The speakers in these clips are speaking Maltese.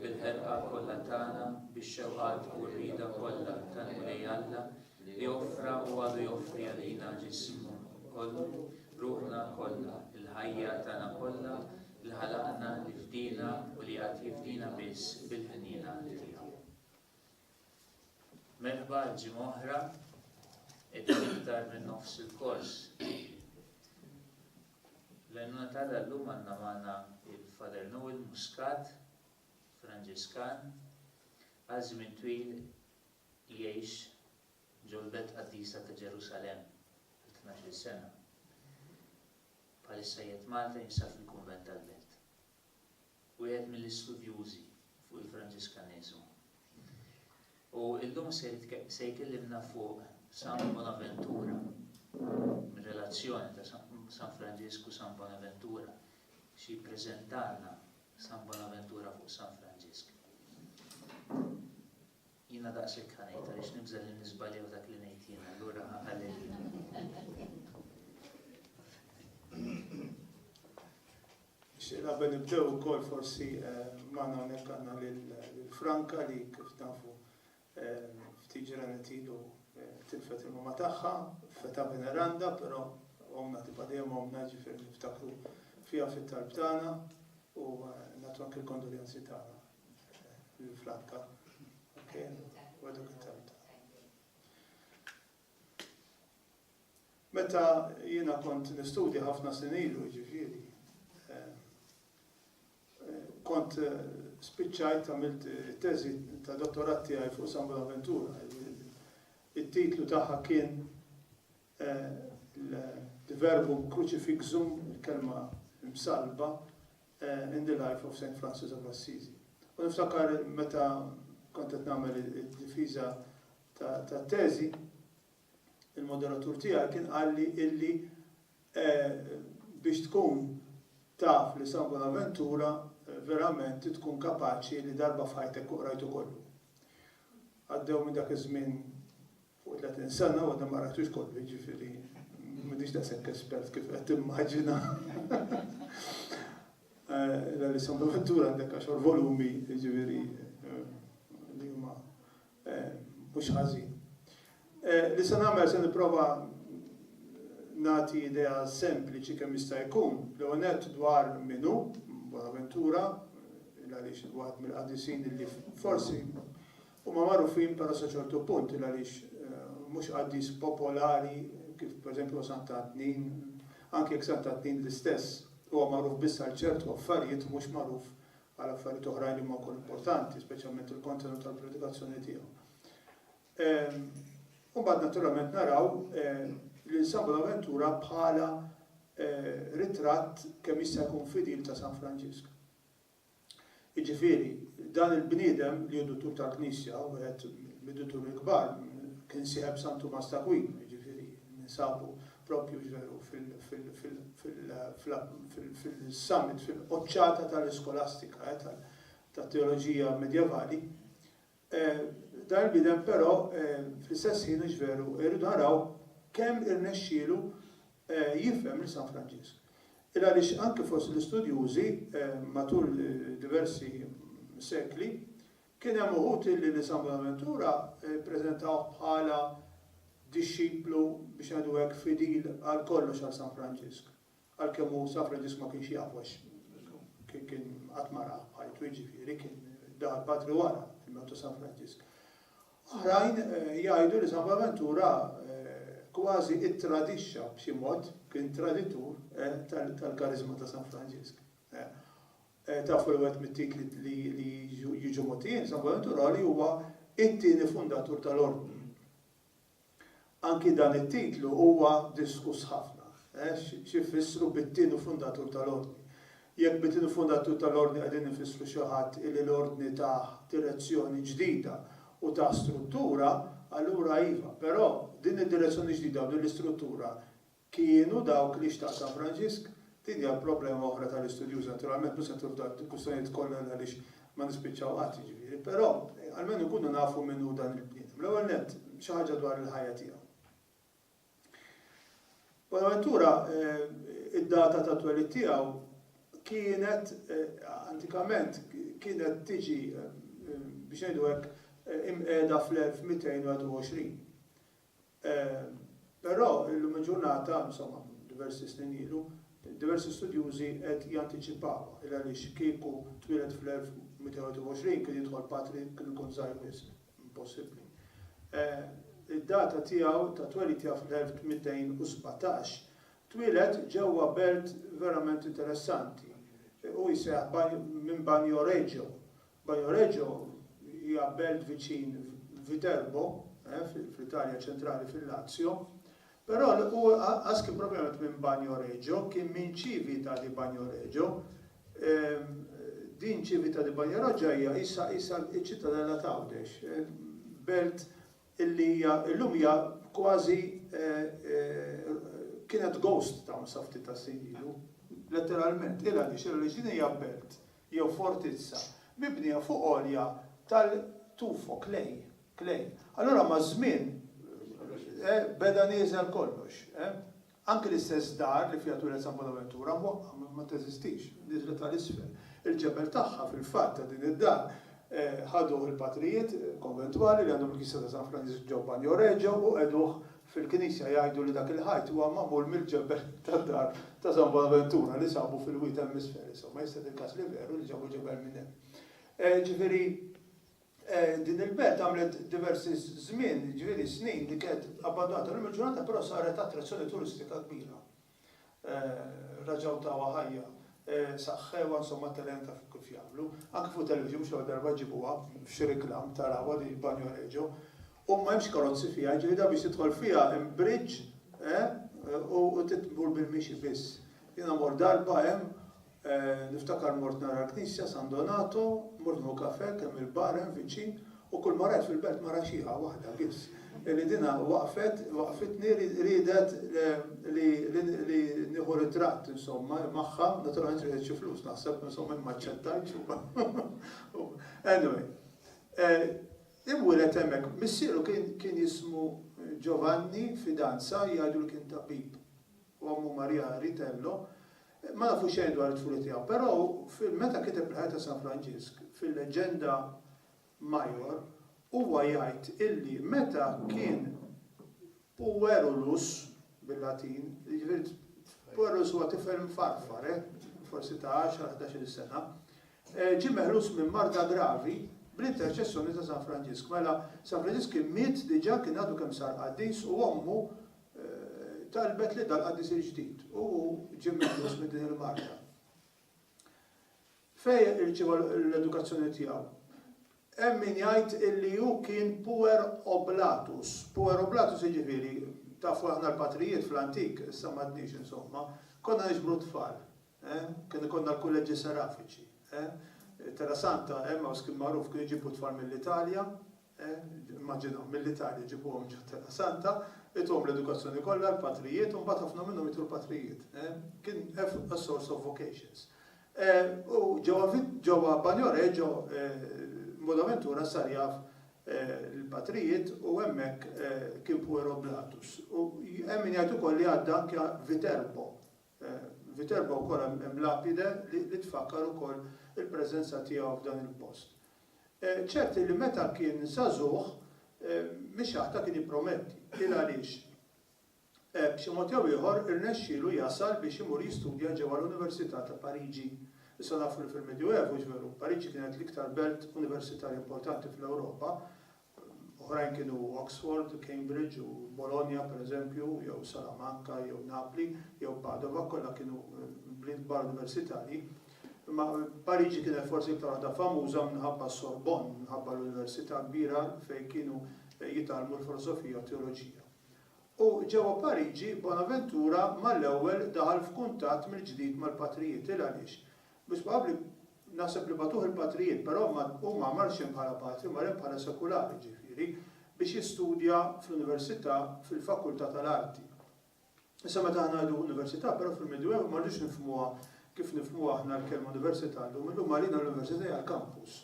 bil-ħerqa kollha tagħna, bix-xewqat u r-rieda kollha tal-Mulej Alla li offra u għadu joffri għalina ġismu kollu, ruħna kollha, il-ħajja tagħna kollha, li ħalaqna, li fdina u li għad jifdina biss bil-ħniena tiegħu. Merħba għal ġimgħa oħra, qed iktar minn nofs il-kors. L-għajnuna tagħna llum għandna magħna il-Father Noel Muscat, Franġiskan, għal żmien twil jgħix ġolbet qaddisa ta' Ġerusalem għal 12 sena. Palissa jiet Malta jinsab fil-Kunvent tal-Belt. wieħed mill-istudjużi fuq il-Franġiskaniżmu. U illum se se jkellimna fuq San Bonaventura, relazzjoni ta' San Franġisku San Bonaventura, xi jippreżentalna San Bonaventura fuq San Franġisk. Jiena daqshekk ħa ngħid għaliex nibża' li niżbalja f'dak li ngħid jien, allura ħa qalilli. Nixtieq qabel nibdew ukoll forsi magħna hawnhekk għandna lil Franka li kif tafu ftit ġranet ilu tilfet il-mama tagħha feta veneranda, però omna tibqa' dejjem omna ġifieri niftakru fiha fit-talb tagħna u nagħtu anke l-kondoljanzi tagħna. Il-flakka. Okay. Wadok it-telt. Meta jiena kont nistudja ħafna sinilu ġifiri, eh, eh, kont eh, spiċċajt għamilt teżi ta' dottorat tiegħi fuq San Bonaventura. Il-titlu tagħha kien Il-verbu crucifixum, il-kelma msallba, in the life of Saint Francis of Assisi. U niftakar meta kont qed nagħmel id-difiża tat-teżi, il-moderatur tiegħi kien qalli illi biex tkun taf li San Bonaventura verament tkun kapaċi li darba f'ħajtek qrajtu kollu. Għaddew minn dak iż-żmien Fuq 30 sena u għadha ma qrajtux kollu, jiġifieri m'iniex daqshekk espert kif qed timmaġina. L-Alessandro Ventura għandek għaxar volumi, jiġifieri li huma mhux ħażin. Li se nagħmel se nipprova nagħti idea sempliċi kemm jista' jkun, l-ewwel nett dwar min hu Bonaventura, il-għaliex waħed mill-qaddisin li forsi Huma magħrufin però sa ċertu punt il għaliex mhux qaddis popolari kif pereżempju huwa Santa Tnin, anki jekk Santa Tnin l-istess huwa magħruf biss għal ċertu affarijiet mhux magħruf għal affarijiet oħrajn li huma wkoll importanti, speċjalment il-kontenut tal-predikazzjoni tiegħu. U mbagħad naturalment naraw lil San Bonaventura bħala ritratt kemm jista' jkun fidil ta' San Franġisk. Jiġifieri, dan il-bniedem li hu duttur tal-Knisja, wieħed mid-dutturi l-kbar, kien sieħeb San Tumas t'Akwinu, jiġifieri ninsabu proprju veru fil-summit, fil-quċċata tal-iskolastika, tat-teoloġija medjevali. Dan il-bniedem però fl-istess ħin hux veru irridu naraw kemm irnexxielu jifhem lil San Franġisk. Il-għaliex anke fost l-istudjużi matul diversi sekli kien hemm uħud illi lil San Bonaventura ppreżentawh bħala dixxiplu biex ngħidu hekk fidil għal kollox għal San Franġisk. Għalkemm hu safra ġismu ma kienx jafu għax kien qatt ma ra ħajtu jiġifieri kien dar patri wara il-mewt ta' San Franġisk. Oħrajn eh, jgħidu li San Bonaventura eh, kważi ittradixxa b'xi mod kien traditur eh, tal-karizma ta' San Franġisk. Tafu li wet mit-titli li jiġu motijin, San Bonaventura li huwa it-tieni fundatur tal-ordni. Anki dan it-titlu huwa diskuss ħafna. X'ifissru bit-tieni fundatur tal-Ordni? Jekk bit-tieni fundatur tal-Ordni qegħdin infissru xi ħadd illi l-Ordni tah direzzjoni ġdida u tah struttura, allura iva. Però, din id-direzzjoni ġdida u din l-istruttura Kienu dawk li xtaq San Franġisk? Din hija problema oħra tal-istudjuż naturalment, mhux se nidħlu f'dawk il-kwistjonijiet kollha għaliex ma nispiċċaw qatt jiġifieri, però almenu nkunu nafu min hu dan il-bniedem. L-ewwel nett, xi ħaġa dwar il-ħajja tiegħu. Bonaventura, id-data tat-twelid tiegħu kienet antikament kienet tiġi biex ngħidu hekk imqiegħda fl-1221. Però, illum il-ġurnata, insomma, diversi snin ilu, diversi studjużi qed jantiċipawha, il għaliex kieku twieled fl-1221 kien jidħol patri kien ikun żgħir wisq, impossibbli. Id-data tiegħu ta' twelid tiegħu fl-1817, twieled ġewwa belt verament interessanti. Hu jissejjaħ minn Bagnoregio, Bajoreggio hija belt viċin Viterbo, fl-Italja ċentrali fil-Lazio. Però qas kien propjament minn Bagnoregio, kien minn Civita di Bagnoregio. Din Civita di Bagnoregio hija qisha qisha ċ-ċittadella t'Għawdex, belt illi hija llum hija kważi kienet ghost town sa ftit tas-snin ilu. Letteralment, il-għaliex? Il-għaliex din hija belt jew fortizza, mibnija fuq għolja tal-tuffo, klej, klej. Allura maż-żmien beda nieżel kollox. Anki l-istess dar li fiha twieled San Bonaventura mwaqqgħa, ma teżistix, nieżlet għal isfel. Il-ġebel tagħha, fil-fatt, ta' din id-dar, ħaduh il-patrijiet konventwali li għandhom il-knisja ta' San Franġisk ġewBanjoreġo u qegħduh Fil-Knisja jgħidu li dak il-ħajt huwa magħmul mill-ġebel tad-dar ta' San Bonaventura li sabu fil-wied hemm-isfel. Insomma, jista' jkun il-każ li veru li ġabu ġebel minn hemm. Jiġifieri, din il-belt għamlet diversi żmien, jiġifieri snin, li kienet abbandunata. Illum il-ġurnata però saret attrazzjoni turistika kbira. raġgħu tawha ħajja, saħħewha, insomma telgħinitha fuq kif jagħmlu. Anke fuq it-televiżjon xi darba jġibuha f'xi reklam tarawha din Banjo Regio. U m'hemmx karozzi fiha, jiġifieri dak biex tidħol fiha hemm bridge u titmur bil-mixi biss. Jiena mort darba hemm Niftakar mort nara l-knisja San Donato, mort nieħu kafè kemm il-bar hemm viċin u kull ma rajt fil-belt mara xiħa waħda biss li dinha waqfet waqfitni riedet li nieħu ritratt insomma magħha, naturalment riedet xi flus naħseb insomma jien m'aċċettajtx u anyway. Inwieled hemmhekk, missieru kien jismu Giovanni Fidanza jgħidu li kien tabib u ommu Maria Ritello Ma nafu xejn dwar it-tfulha tiegħu, però meta kiteb il-ħajja ta' San Franġisk, fil-Legenda Major, huwa jgħid illi meta kien puerulus, bil-Latin, jiġifieri puerulus huwa tifel mfarfar, eh, forsi ta' għaxar, ħdax-il sena, eh, ġie meħlus minn marda gravi bl-interċessjoni ta' San Franġisk. Mela, San Franġisk kien miet diġà, kien għadu kemm sar qaddis u ommu talbet li dal-qaddis il-ġdid, u hu ġie meħluż minn din il-marda. Fejn irċieva l-edukazzjoni tiegħu? Hemm min jgħid illi hu kien puer oblatus. Puer oblatus jiġifieri tafu aħna l-patrijiet fl-antik, issa m'għadniex insomma, konna niġbru tfal. Eh? Kien ikollna l-kulleġġi serafiċi. Eh? Terra Santa, Emmaus kien magħruf kien iġibu tfal mill-Italja, Immaġina, mill-Italja jġibuhom ġo t-Terra Santa, ituhom l-edukazzjoni kollha, l-patrijiet, u mbagħad ħafna minnhom jgħidu l-patrijiet. Kien a source of vocations. U ġewwa ġewwa Bagno Reggio Bonaventura sar jaf l-patrijiet u hemmhekk kien puerobliatus. U hemm min jgħid ukoll li għadda anke Viterbo, Viterbo wkoll hemm lapide li tfakkar ukoll il-preżenza tiegħu f'dan il-post. Ċert li meta kien żagħżugħ, Mixaħta kien jipprometti. Il-għaliex? B'xi mod jew ieħor irnexxielu jasal biex imur jistudja ġewwa l-Università ta' Pariġi. Issa nafu li fil-Medjuevu, veru, Pariġi kienet l-iktar belt universitarja importanti fl-Ewropa, Oħrajn kienu Oxford, Cambridge u Bologna pereżempju, jew Salamanca, jew Napli, jew Padova, kollha kienu bliet kbar universitarji. Imma Pariġi kienet forsi iktar waħda famuża minħabba s-Sorbonne, minħabba l-università kbira fejn kienu jitgħallmu l-filosofija u t-teoloġija. U ġewwa Pariġi, Bonaventura mal-ewwel daħal f'kuntatt mill-ġdid mal-patrijiet. Il għaliex? Mhux probabbli Naħseb li bagħtuh il-patrijiet, però ma hu ma marx hemm bħala patri, mar hemm bħala sekulari, jiġifieri, biex jistudja fl-università fil-fakultà tal-arti. Issa meta aħna ngħidu università, però fil-Medjuevu ma rridux nifhmuha kif nifhmuha aħna l-kelma università llum, illum għalina l-università hija l-kampus.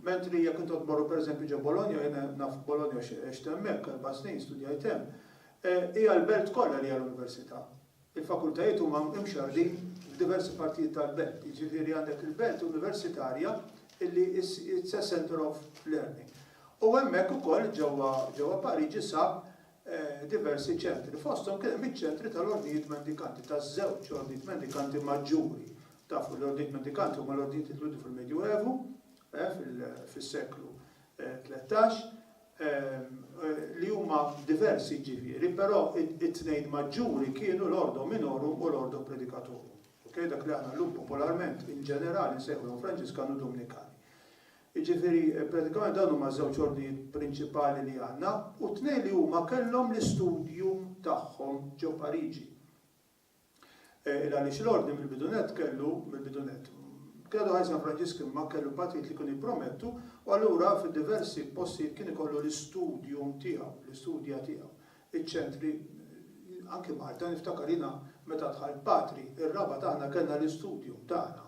Mentri jekk intom tmorru pereżempju ġo Bologna, jiena naf Bologna għax għext hemmhekk erba' snin, studjajt hemm, hija l-belt kollha li hija l-università. Il-fakultajiet huma mxarrdin f'diversi partijiet tal-belt, jiġifieri għandek il-belt universitarja illi it's a centre of learning. U hemmhekk ukoll ġewwa ġewwa Pariġi sab diversi ċentri, fosthom kien hemm iċ-ċentri tal-Ordnijiet Mendikanti, taż-żewġ Ordnijiet Mendikanti maġġuri. Tafu l-Ordnijiet Mendikanti huma l-ordnijiet li twieldu fil-Medjuevu, fis-seklu tlettax, li huma diversi ġifieri, però it-tnejn maġġuri kienu l-Ordo Minorum u l-Ordo Predicatorum. Okay? Dak li aħna llum popolarment in ġenerali nsejħulhom Franġiskani u Dumnikani. Jiġifieri eh, pratikament dawn huma żewġ ordnijiet prinċipali li għandna u tnejn li huma kellhom l-istudju tagħhom ġo Pariġi. Il għaliex l-Ordni mill-bidu nett kellu, mill-bidu nett, Credo Ħaj San Franġisk imma kellu partijiet li kienu jippromettu u allura fid-diversi postijiet kien ikollu l-istudium tiegħu, l-istudja tiegħu, iċ-ċentri, anki Malta, niftakar jiena meta dħalt Patri, ir-Rabat aħna kellna l-istudium tagħna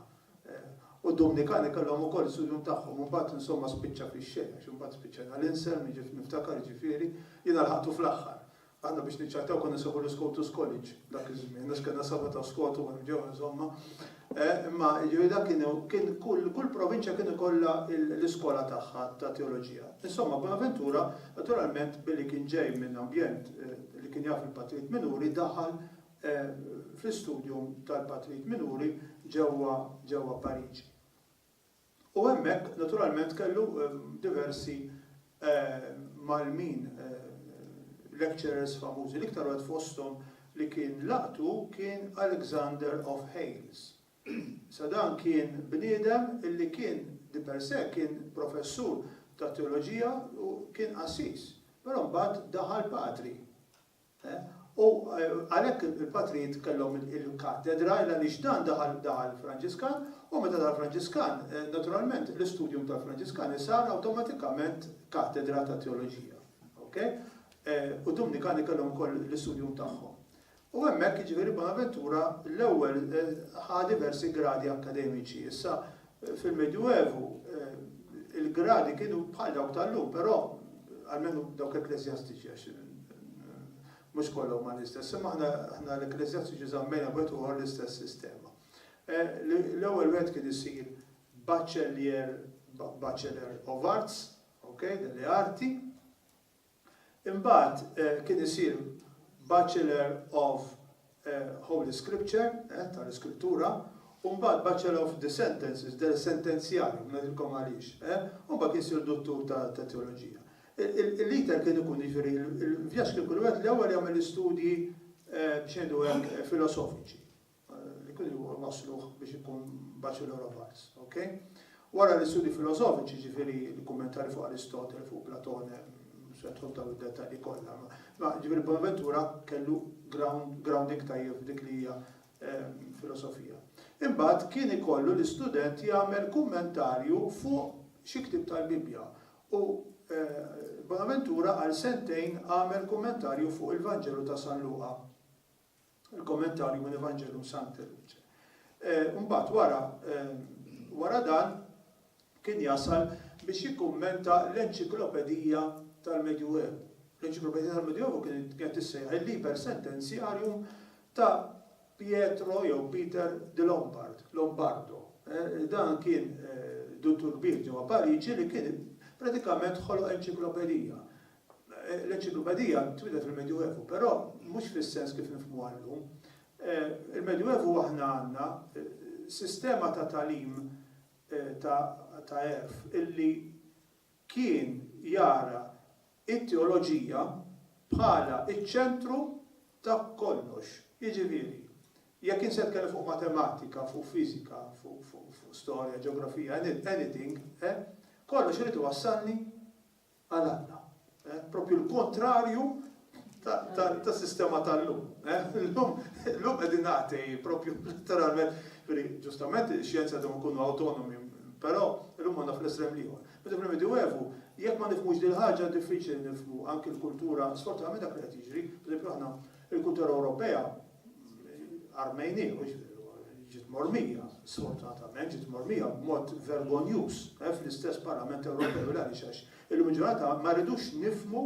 u d-Dumnikani kellhom ukoll l-istudium tagħhom u mbagħad insomma spiċċa fix-xejn għax imbagħad spiċċajna l-Insel, niftakar jiġifieri, jiena lħaqtu fl-aħħar. Aħna biex niċċattaw konna nsejħu l-Scotus College dak iż-żmien għax kellna saba' ta' skotu hemm ġewwa insomma. Imma jiġifieri dak kien kien kull kull provinċja kien ikollha l-iskola tagħha ta' teoloġija. Insomma, Bonaventura naturalment billi kien ġej minn ambjent li kien jaf il-Patrit Minuri daħal fl-istudium tal-Patrit Minuri ġewwa ġewwa Pariġi. U hemmhekk naturalment kellu diversi mgħallmin, lecturers famużi. L-iktar wieħed fosthom li kien laqtu kien Alexander of Hales. Issa dan kien bniedem li kien di per se kien professur tat-teoloġija u kien qassis, però mbagħad daħal patri. U għalhekk il-patrijiet kellhom il-kattedra għaliex dan daħal daħal Franġiskan u meta daħal Franġiskan naturalment l-istudium tal-Franġiskani sar awtomatikament kattedra ta' teoloġija. Ok? U Dumnikani kellhom ukoll l-istudium tagħhom. U hemmhekk jiġifieri Bonaventura l-ewwel ħa diversi gradi akkademiċi. Issa Fil-Medjuevu, il-gradi kienu bħal dawk tal-lum, però, almenu dawk ekkleżjastiċi, għax mhux kollha huma l-istess, imma aħna l-ekkleżjastiċi żammejna b'wieħed ieħor l-istess sistema. L-ewwel wieħed kien isir baċċellier, Bachelor of Arts, ok, delle arti, Imbagħad kien isir Bachelor of Holy Scripture, tal-Iskrittura, u mbagħad Bachelor of the Sentences, dell-Sentenzjar, u ngħidilkom għaliex. U mbagħad kien isir Duttur ta' Teoloġija. L-iter kien ikun, jiġifieri, il-vjaġġ kien ikun wieħed li l-ewwel jagħmel l-istudji, biex ngħidu hekk, filosofiċi. li kien ilu wassluh biex ikun Bachelor of Arts. Ok? Wara l-istudji filosofiċi, jiġifieri l-kummentari fuq Aristotle, fuq Platone, mhux se nidħol f'dawn id-dettalji kollha, ma jiġifieri Bonaventura kellu ground, grounding tajjeb f'dik li hija filosofija. Imbagħad kien ikollu l-istudent jagħmel kummentarju fuq xi ktieb tal-Bibbja u Bonaventura għal sentejn għamel kummentarju fuq il-Vanġelu ta' San Luqa. Il-Kommentarju minn Evangelum Sancte Luce. Mbagħad wara wara dan kien jasal biex jikkummenta l-Enċiklopedija tal-Medjuevu. L-Enċiklopedija tal-Medjuevu kienet qed tissejjaħ il-Liber Sententiarium ta' Pietro jew Peter de Lombard, Lombardo. Dan kien duttur kbir ġewwa Pariġi li kien pratikament ħoloq enċiklopedija L-enċiklopedija twieldet fil-Medjuevu, però mhux fis-sens kif nifhmuha llum. Il-Medjuevu aħna għandna sistema ta' tagħlim ta' għerf illi kien jara t-teoloġija bħala ċ-ċentru ta' kollox. Jiġifieri, jekk int se tkellem fuq matematika, fuq fiżika, fuq storja, ġeografija, anything, kollox irid iwassalni għal Alla. Proprju l-kontrarju tas-sistema tal-lum. Illum qegħdin atei, proprju letteralment, ġustament ix-xjenza għandhom ikunu awtonomi, però illum għandna fl-estrem l-ieħor. Meta fil-Medjuevu, jekk ma nifhmux din il-ħaġa diffiċli nifhmu anki l-kultura, sfortunatament dak li qed jiġri, pereżempju aħna il-kultura Ewropea, Armeni, ġiet mormija, sfortunatament, ġiet mormija b'mod vergonjuż eh, fl-istess Parlament Ewropew għaliex għax illum ġurnata ma rridux nifmu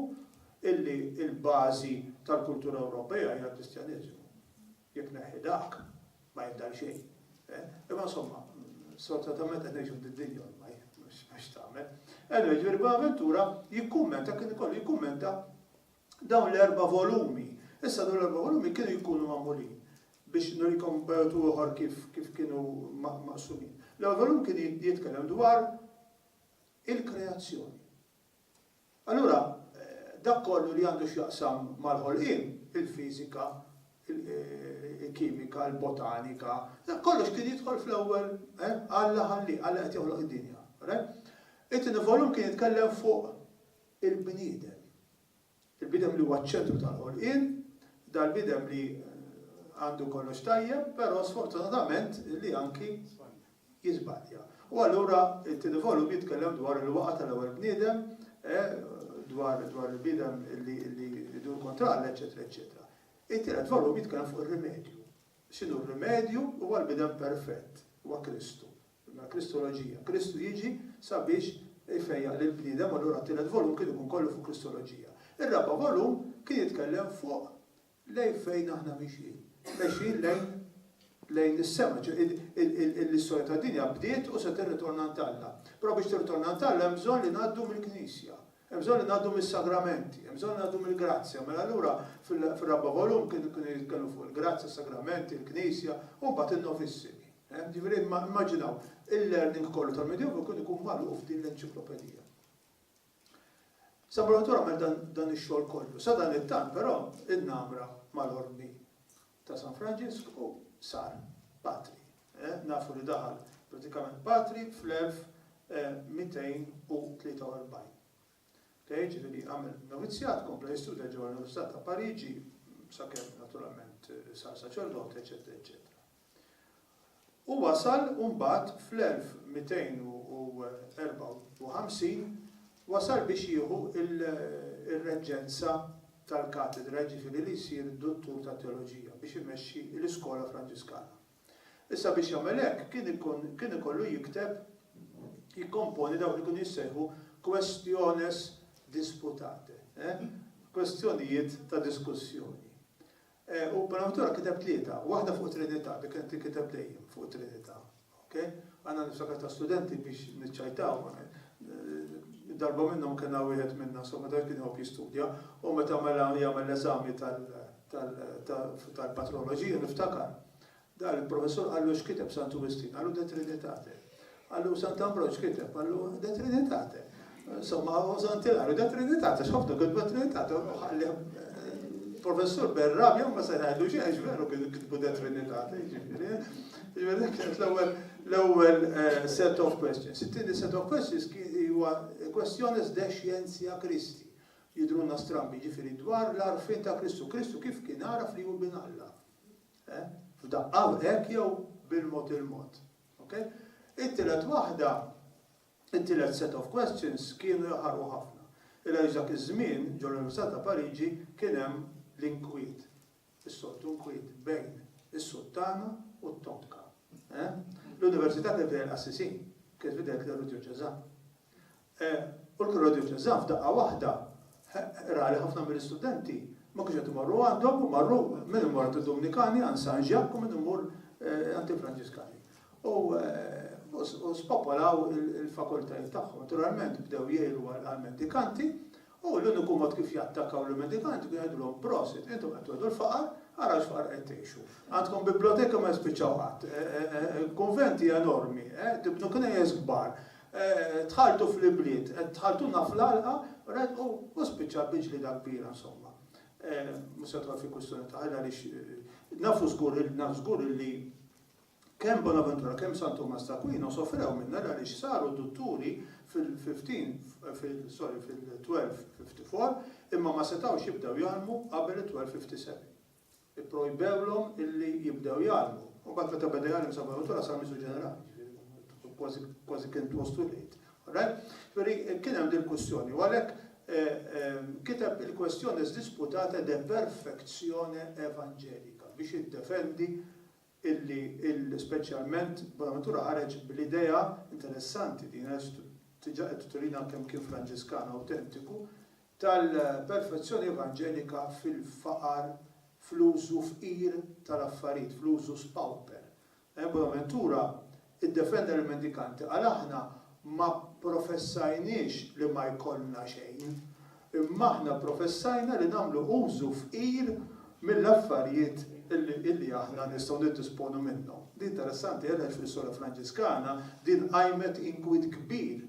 illi il-bażi tal-kultura Ewropea hija l-Kristjaneżmu. Jekk neħi dak, ma jibdal xejn. Eh. Imma insomma, sfortunatament qed ngħixu d-dinja ormaj, mhux tagħmel. Anyway, ġifieri Bonaventura jikkummenta kien ikollu jikkummenta Dawn l-erba' volumi. Issa dawn l-erba' volumi kienu jkunu magħmulin, biex nurikom b'metodu ieħor kif kif kienu maqsumin. L-ewwel volum kien jitkellem dwar il-kreazzjoni. Allura dak kollu li għandu x'jaqsam mal-ħolqien, il-fiżika, il-kimika, il-botanika, dak kollox kien jidħol fl-ewwel, Alla ħallieh, Alla qed joħloq id-dinja. It-tieni volum kien jitkellem fuq il-bniedem. Il-bniedem li huwa ċ-ċentru tal-ħolqien, dal-bniedem li għandu kollox tajjeb, però sfortunatament li anki jiżbalja. U allura it-tieni volum jitkellem dwar il-waqa tal-ewwel bniedem, eh, dwar il-bniedem li jdur kontra l eċetera, eċetera. It-tielet volum jitkellem fuq ir-rimedju. X'inhu r-rimedju? Huwa l-bniedem perfett, huwa Kristu. Mela Kristoloġija. Kristu jiġi sabiex ifejjaq lill-bniedem, allura t-tielet volum kien ikun kollu fuq Kristoloġija. Ir-raba' volum kien jitkellem fuq lejn fejn aħna mixjin. Mexjin lejn lejn is-sema, ċoe l-istorja tad-dinja bdiet u se tirritorna għand Alla. Però biex tirritorna għand Alla hemm bżonn li ngħaddu mill-Knisja. Hemm bżonn li ngħaddu mis-sagramenti, hemm bżonn li ngħaddu mill-grazzja. Mela allura fir-raba' volum kienu jitkellmu fuq il-grazzja, s-sagramenti, il-Knisja, u mbagħad in-novissimi. Jiġifieri immaġinaw, il-learning kollu tal-Medjoevu kien ikun magħluq f'din l-enċiklopedija. San Bonaventura għamel dan ix-xogħol kollu. Sadanittant però in-Namra mal-Ordni ta' San Franġisk u sar Patri. Nafu li daħal pratikament Patri fl-1243. Okej, ġifieri għamel novizzjat, kompla jistudja ġewwa l-Università ta' Pariġi sakemm naturalment sar saċerdot, eċetera, eċetera. u wasal u mbagħad fl-1254 wasal biex jieħu r-reġġenza tal-katedra, jiġifieri li jsir duttur tat-teoloġija biex imexxi l-iskola Franġiskana. Issa biex jagħmel hekk kien ikun kien ikollu jikteb, jikkomponi dawk li kienu jissejħu questiones disputate, eh, kwestjonijiet ta' diskussjoni. U Bonaventura kiteb tlieta, waħda fuq it-Trinità, li kienet tinkiteb dejjem fuq it-Trinità. Ok? Għandna niftakar ta' studenti biex niċċajtaw, darba minnhom kellna wieħed minna, insomma dak kien iħobb jistudja, u meta mela jagħmel l-eżami tal-patroloġija niftakar Dak il-professur qallu x'kiteb Santu Wistin? Qallu De Trinitate. Qallu Sant'Ambroġ x'kiteb? Qallu De Trinitate. Insomma, u Sant'Ilarju De Trinitate, x'ħafna kitbu De Trinitate. Professur Berrabja ma se ngħidlu xejn, x'veru kitbu De Trinitate, jiġifieri. Jiġifieri dak kienet l-ewwel l-ewwel eh, set of questions. It-tieni set of questions huwa questiones de scientia Kristi. Jidruna strambi, ġifiri dwar l-arfin ta' Kristu. Kristu kif kien għaraf li hu bin Alla. Eh? F'daqqa hekk jew bil-mod il-mod. Okay? It-tielet waħda, it-tielet set of questions kienu jaħarqu ħafna. Illa għax dak iż-żmien ġol l-Università ta' Pariġi kien hemm l-inkwiet, is-soltu nkwiet bejn is-Suttana u t-Tonka. Eh? L-Università kien fidejn qassisin, kien fidejn l-Eru Djoċeżan. U l-Kura Djoċeżan f'daqqa waħda ra li ħafna mill-istudenti ma kienux qed imorru għandhom u marru, min imur għand id-Dumnikani, għand San Ġakk u min imur għand il-Franġiskani. U spopolaw il-fakultajiet tagħhom. Naturalment bdew jgħiru għall-mendikanti U l-uniku mod kif jattakaw l-mendikanti kien jgħidulhom, Prosit, intom qed tgħodu l-faqar, ara x'faqar qed tgħixu. Għandkom biblioteki ma jispiċċaw qatt, kunventi enormi, tibnu knejjes kbar, tħalltu fl-ibliet, qed tħalltulna fl-għalqa, rajt, u u spiċċa bil-ġlieda kbira, insomma. Mhux se nidħol fi kwistjoni ta' ħajt għaliex nafu żgur, naf żgur illi Kemm Bonaventura kemm San Tumas t'Aquino sofrew minnha għaliex saru dutturi fil-1254 imma ma setgħux jibdew jgħallmu qabel it-1257. Ipprojbewlhom illi jibdew jgħallmu. Imbagħad meta beda jgħallem San Bonaventura sar Miżżu Ġenerali, jiġifieri kważi kważi kien twas too late. Alright? Jiġifieri kien hemm dil-kwistjoni u għalhekk kiteb il-Questione sdisputate de perfectione evangelica biex jiddefendi illi speċjalment Bonaventura ħareġ bl-idea interessanti, din għaliex diġà qed turina kemm kien Franġiskan awtentiku, tal-perfezzjoni evanġelika fil-faqar, fl-użu fqir tal-affarijiet, fl-usus pauper. Bonaventura Iddefenda lill-mendikanti, qal aħna ma pprofessajniex li ma jkollna xejn, imma aħna pprofessajna li nagħmlu użu fqir mill-affarijiet li aħna nistgħu niddisponu minnhom. Din interessanti għaliex fl-istorja Franġiskana din qajmet inkwiet kbir,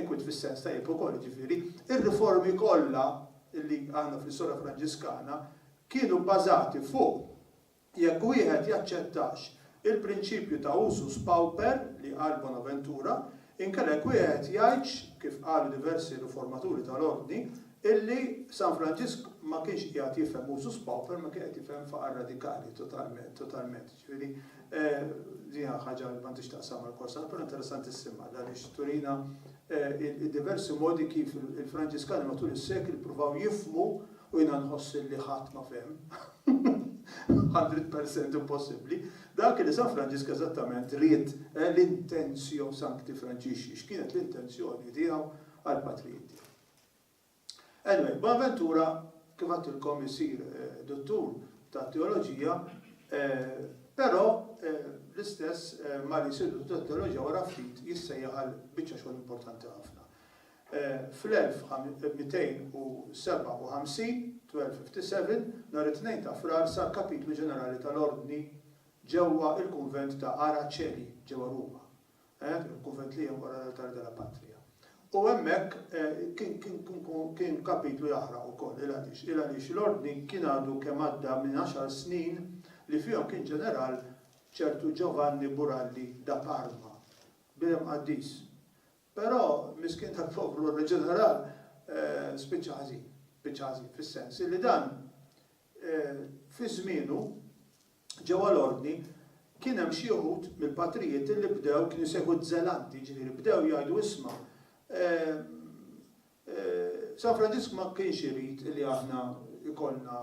inkwiet fis-sens tajjeb ukoll, jiġifieri r-riformi kollha li għandna fl-istorja Franġiskana kienu bbażati fuq Jekk wieħed jaċċettax il-prinċipju ta' usus pauper li qal Bonaventura, inkella jekk wieħed jgħidx, kif qalu diversi riformaturi tal-Ordni, illi San Franġisk ma kienx qiegħed jifhem usus pauper ma kien qed jifhem faqar radikali totalment, totalment. Ġifieri, din hija ħaġa li m'għandhiex x'taqsam mal-Korsar, però interessantissima għaliex turina il-diversi modi kif il-Franġiskani matul is-sekli ppruvaw jifhmu U jiena nħoss li ħadd ma fehem. Hundred per cent impossibbli. Dak li San Franġisk eżattament ried, eh, l-intenzio sancti Franġixxi, x'kienet l-intenzjoni tiegħu għall-patrijiet tiegħu. Anyway, Bonaventura, kif għedtilkom, isir duttur tat-teoloġija, però l-istess malli jsir duttur tat-teoloġija wara ftit jissejjaħ għal biċċa xogħol importanti ħafna. Fl-1257, 1257, nhar it-Tnejn ta' Frar sar Kapitlu Ġenerali tal-Ordni ġewwa l-Kunvent ta' Ara Coeli ġewwa Ruma, il-kunvent li hemm wara l-Altare della Patria. U hemmhekk kien kapitlu jaħraq ukoll. Il għaliex? Il għaliex l-Ordni kien għadu kemm għadda minn għaxar snin li fihom kien ġeneral ċertu Giovanni Buralli da Parma, bnedem qaddis, Però, miskien tal-poplu oriġinarali spiċċa ħażin, spiċċa ħażin fis-sens illi dan fi żmienu ġewwa l-Ordni kien hemm xi wħud mill-patrijiet illi bdew kienu jsejħu żelanti, jiġifieri bdew jgħidu isma' San Franġisk ma kienx irid illi aħna jkollna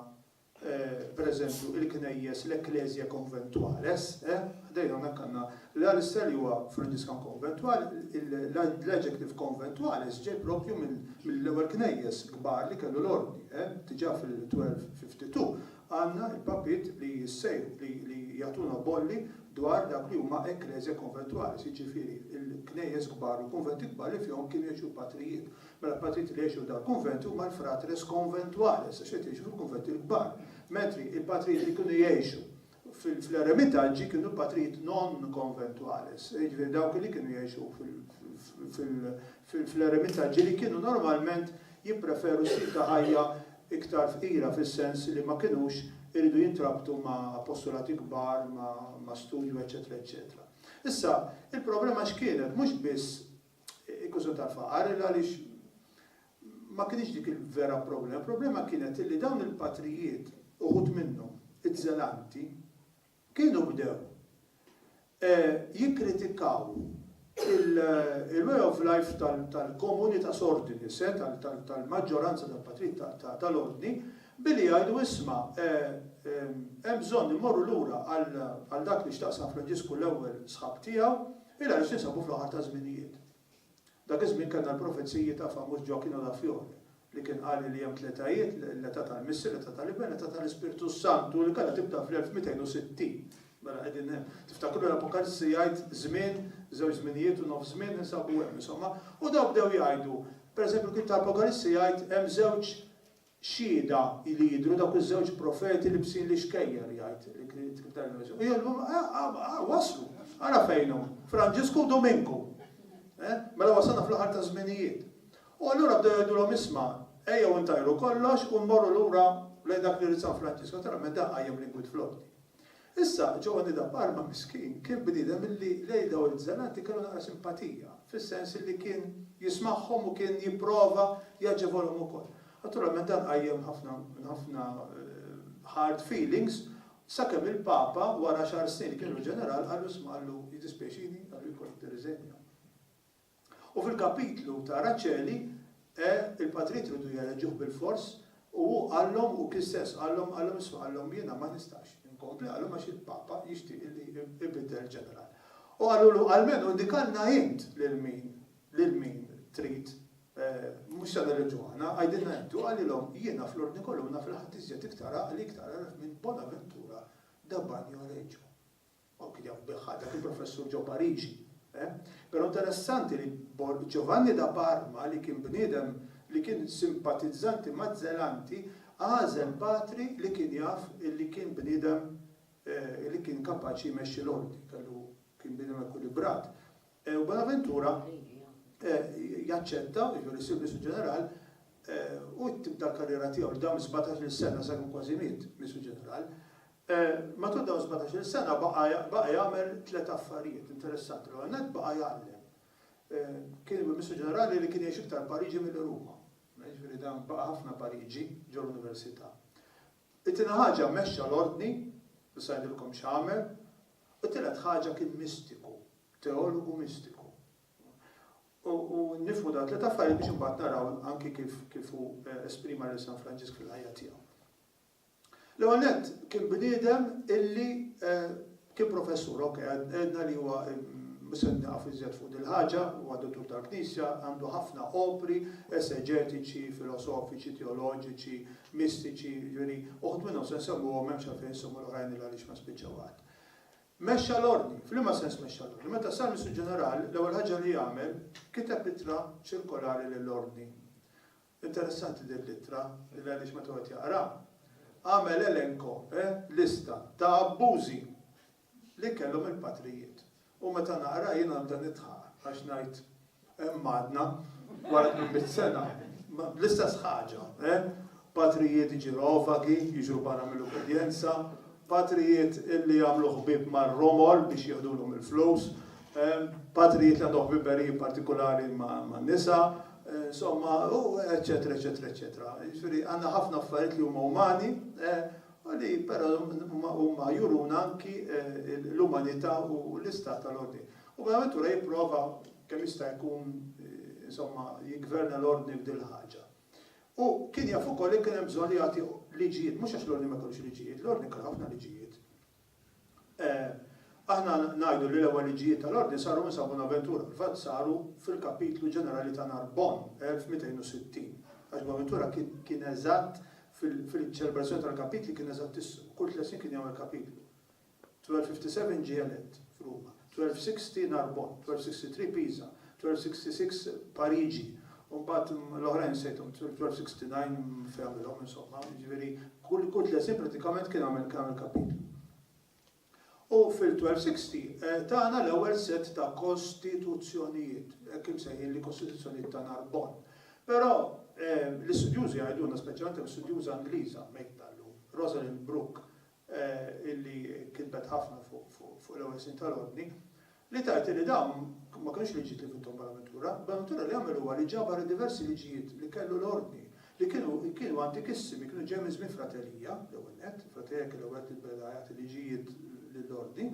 per eżempju, il-knejjes, l-ecclesia conventuales, ħdejn hawnhekk għandna l-Alistair li huwa Franġiskan Konventwal, l-adjective conventuales ġej proprju mill-ewwel knejjes kbar li kellu l-Ordni. Diġà fil-1252 għandna l-papiet li jissejħu, li jagħtuna bolli dwar dak li huma ecclesia conventuales, jiġifieri l-knejjes kbar u l-kunventi kbar li fihom kienu jgħixu l-patrijiet. Mela l-patrijiet li jgħixu f'dan il-kunvent huma l-fratres conventuales, għax qed jgħixu fil-kunventi l-kbar, mentri l-patrijiet li kienu jgħixu fl-eremitaġġi kienu patrijiet non conventuales, jiġifieri dawk li kienu jgħixu fl-eremitaġġi li kienu normalment jippreferu stil ta' ħajja iktar fqira fis-sens li ma kinux iridu jintrabtu ma' appostolati kbar, ma' studju eċċetera eċċetera. Issa, il-problema x'kienet? Mhux biss Il-kwistjoni tal-faqar il għaliex ma kinitx dik il-vera problema. Il-problema kienet li dawn il-patrijiet, uħud minnhom, iż-żelanti, kienu bdew jikkritikaw il-way of life tal-komunità sordinis, tal-maġġoranza tal-patrijiet tal-ordni, billi jgħidu isma', hemm bżonn immorru lura għal dak li x'taqsam Franġisku l-Ewwel sħab tiegħu, Ilha issa ninsabu fl-aħħar taż-żminijiet. Dak iż-żmien kellna l-profeziji ta' famuż Gioacchino da Fiore li kien qal li hemm tletajiet, l-età tal-Missier, l-età tal-Iben, l-età tal-Ispirtu s-Santu li kellha tibda fl-1260. Mela qegħdin hemm. Tiftakru l-Apokalissi jgħid żmien, żewġ żminijiet u nofs żmien ninsabu hemm, insomma. U dawn bdew jgħidu, pereżempju l-ktieb ta' Apokalissi jgħid hemm żewġ, Xhieda li jidhru dawk iż-żewġ profeti libsin l-ixkejjer, jgħid il-Ktieb tal-Enemesis. U jgħidlu, Aha, waslu! Ara fejn hu! Franġisku u Duminku! Mela wasalna fl-aħħar taż-żminijiet. U allura bdew jgħidulhom, Isma', ejjew intajru kollox u mmorru lura lejn dak li ried San Franġisku. Naturalment dan qajjem l-inkwiet fl-Ordni. Issa, Giovanni da Parma, miskin, kien bniedem illi lejn dawn il-Bżenati kellu naqra simpatija, fis-sens illi kien jismagħhom u kien jipprova jaġevolhom ukoll. Naturalment dan qajjem ħafna ħafna hard feelings, sakemm il-Papa wara xahar snin li kien ilu ġeneral qallu isma' qallu jiddispjaċini, qallu jkollok tirriżenja. U fil-kapitlu ta' Raċeli, e, il-patrijiet ridu jereġuh bil-fors, u hu qallhom, u kien stess qallhom, qallhom, isma' qallhom, jiena ma nistax inkompli, qallhom għax il-Papa jixtieq illi ibiddel il-ġeneral. U qalulu, almenu indikalna int lil min, lil min trid, e, mhux se nereġu aħna, għidilna int. U qalilhom, jiena fl-Ordni Colonna fil-ħadd iżjed iktar għaqli iktar għaref minn Bonaventura da Bagnoregio. Hawn kien jaf bih dak il-professur ġo Pariġi, eh? Pero' interessanti li Giovanni da Parma li kien bniedem li kien simpatizzanti maz-Zelanti għażel patri li kien jaf li kien bniedem li kien kapaċi jmexxi l-Ordni, kellu kien bniedem ekwilibrat. U Bonaventura jaċċetta, jiġifieri jsir Mistru Ġeneral, u tibda l-karriera tiegħu li dam sbatax-il sena sakemm kważi miet Mistru Ġeneral. Matul dawn sbatax-il sena baqa' jagħmel tliet affarijiet interessanti. L-ewwel nett baqa' jgħallem. Kien il-Burmistru Ġenerali li kien jgħix iktar Pariġi milli Ruma. Jiġifieri dan baqa' ħafna Pariġi ġol-Università. It-tieni ħaġa mexxa l-Ordni, issa ngħidilkom x'għamel. U t-tielet ħaġa kien mistiku, teologu mistiku. U nifhmu dawn it-tliet affarijiet biex imbagħad naraw anki kif hu esprima lil San Franġisk fil-ħajja tiegħu. L-ewwel nett, kien bniedem illi kien professur, ok, għedna li huwa, mhux se nieqaf iżjed fuq dil-ħaġa, huwa dottur tal-Knisja, għandu ħafna opri eseġetiċi, filosofiċi, teoloġiċi, mistiċi, jiġifieri uħud minnhom se nsemmuhom, m'hemmx għalfejn insemmu l-oħrajn il għaliex ma nispiċċaw qatt. Mexxa l-Ordni. F'liema sens mexxa l-Ordni? Meta sar Missur Ġeneral, l-ewwel ħaġa li għamel, kiteb ittra ċirkolari lill-Ordni. Interessanti din l-ittra li l-għeriex meta wieħed jaqraha għamel elenko, eh, lista, ta' abbużi li kellhom il-patrijiet. U meta naqraha jien għandha nidħaq għax ngħid hemm għadna wara tmien mitt sena bl-istess ħaġa, eh, patrijiet ġirovagi jiġru barra mill-ubbidjenza, Patrijiet li jagħmlu ħbieb mar-romol biex jieħdulhom il-flus, patrijiet li għandhom ħbiberiji partikulari man-nisa, insomma, u eċċetera, eċċetera, eċċetera. Jiġifieri għandna ħafna affarijiet li huma umani u li però huma juruna anki l-umanità u l-istat tal-ordni. U Bonaventura jipprova kemm jista' jkun, insomma, jiggverna l-ordni f'dil-ħaġa. Hu kien jaf ukoll li kien hemm bżonn li jagħti liġijiet, mhux għax l-ordni ma jkollux liġijiet, l-ordni kellu ħafna liġijiet. Aħna ngħidu li l-ewwel liġijiet tal-ordni saru minn San Bunaventura, fil-fatt saru fil-kapitlu ġenerali ta' Narbonne, 1260, għax Bunaventura kien eżatt fil-ċelebrazzjoni tal-kapitli kien eżattissmu, kull tliet snin kien jagħmel kapitlu. 1257 ġie elett f'Ruma, 1260 Narbonne, 1263 Pisa, 1266 Pariġi, u mbagħad l-oħrajn nsejthom, 1269 fejn għamilhom insomma, jiġifieri kull kull tliet snin prattikament kien għamel kien għamel kapitlu. U fil-1260 tagħna l-ewwel sett ta' kostituzzjonijiet, hekk imsejħin li kostituzzjonijiet ta' Narbonne. Però l-istudjużi jgħidulna, speċjalment hemm studjuża Ingliża mejta llum, Rosalind Brooke, illi kitbet ħafna fuq l-ewwel snin tal-Ordni, li tgħid illi dawn ma kinux liġijiet li vinthom Bonaventura. Bonaventura li għamel huwa li ġabar id-diversi liġijiet li kellu l-Ordni, li kienu kienu antikissimi, kienu ġejjin minn żmien Fratelija, l-ewwel nett, il-Fratelija kien l-ewwel li beda jagħti liġijiet lill-Ordni,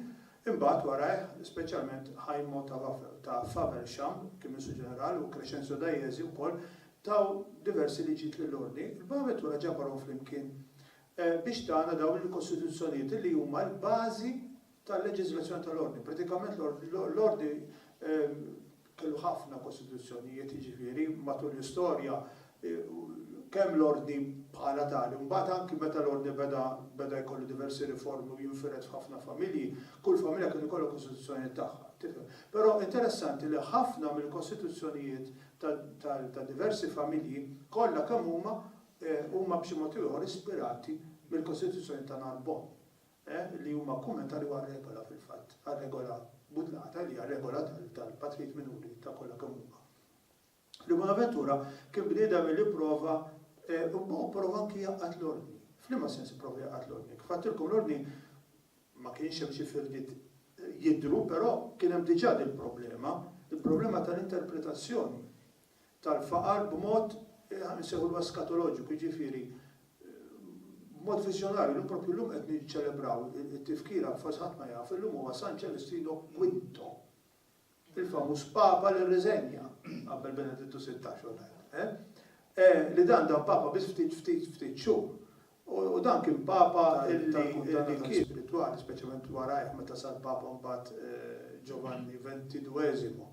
imbagħad warajh speċjalment Ħajmo ta' ta' Faversham kien Ministru Ġenerali u Crescenzio Dajezi wkoll taw diversi liġijiet lill-Ordni. Bonaventura ġabarhom flimkien Biex tagħna dawn il-kostituzzjonijiet li huma l-bażi tal-leġiżlazzjoni tal-Ordni. Pratikament l-Ordni kellu ħafna kostituzzjonijiet jiġifieri matul l-istorja kemm l-Ordni bħala tali, mbagħad anki meta l-Ordni beda beda jkollu diversi riformi u jinfired f'ħafna familji, kull familja kien ikollha kostituzzjoni tagħha, tifhem. Però interessanti li ħafna mill-kostituzzjonijiet ta' diversi familji kollha kemm huma huma b'xi mod ieħor ispirati mill-Kostituzzjoni ta' Narbonne, li huma kummentarju għar-regola fil-fatt, għar-regola budlata li hija regola tal-patrijiet minuri ta' kollha kemm huma. Fri Bonaventura kien bniedem li pprova, u pprova anki jgħaqqad l-Ordni. F'liema sens ipprova jgħaqqad l-Ordni? Kif għedtilkom l-Ordni ma kienx hemm xi firdiet jidhru, però kien hemm diġà dil-problema, il-problema tal-interpretazzjoni tal-faqar b'mod, insejħulu eskatoloġiku, jiġifieri b'mod viżjonarju. Illum proprju llum qed niċċelebraw it-tifkira, forsi ħadd ma jaf, illum huwa San Ċelestrino Quinto, il-famuż Papa li rriżenja qabel Benedittu Sittax u l-għajr, li dan dan Papa biss ftit ftit ftit xhur. U dan kien Papa tal-kundanna tal-ispiritwali, speċjalment warajh meta sar Papa mbagħad Ġovanni Ventidueżimo.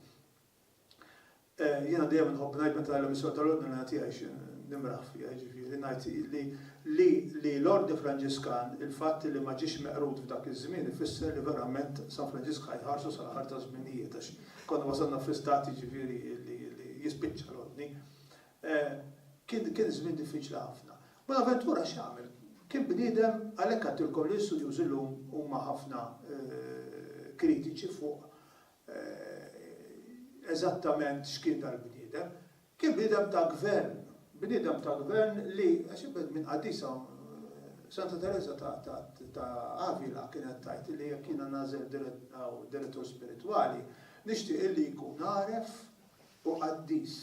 Jiena dejjem inħobb ngħid meta l-emissjoni tal-Ordinarja tiegħi xi nimraħ fiha, jiġifieri ngħid li li l-Ordni Franġiskan, il-fatt li ma ġiex meqrud f'dak iż-żmien ifisser li verament San Franġisk ħa jħarsu sal-aħħar taż-żminijiet għax konna wasalna fi stat jiġifieri li jispiċċa l-Ordni. Kien kien żmien diffiċli ħafna. Bonaventura x'għamel? Kien bniedem, għalhekk għedtilkom li l-istudjużi llum huma ħafna kritiċi fuq eżattament x'kien dal-bniedem. Kien bniedem ta' gvern, bniedem ta' gvern li, minn qaddisa, Santa Tereża ta' Avila kienet tgħid li jekk jiena nagħżel direttur spiritwali, nixtieq illi jkun għaref u qaddis.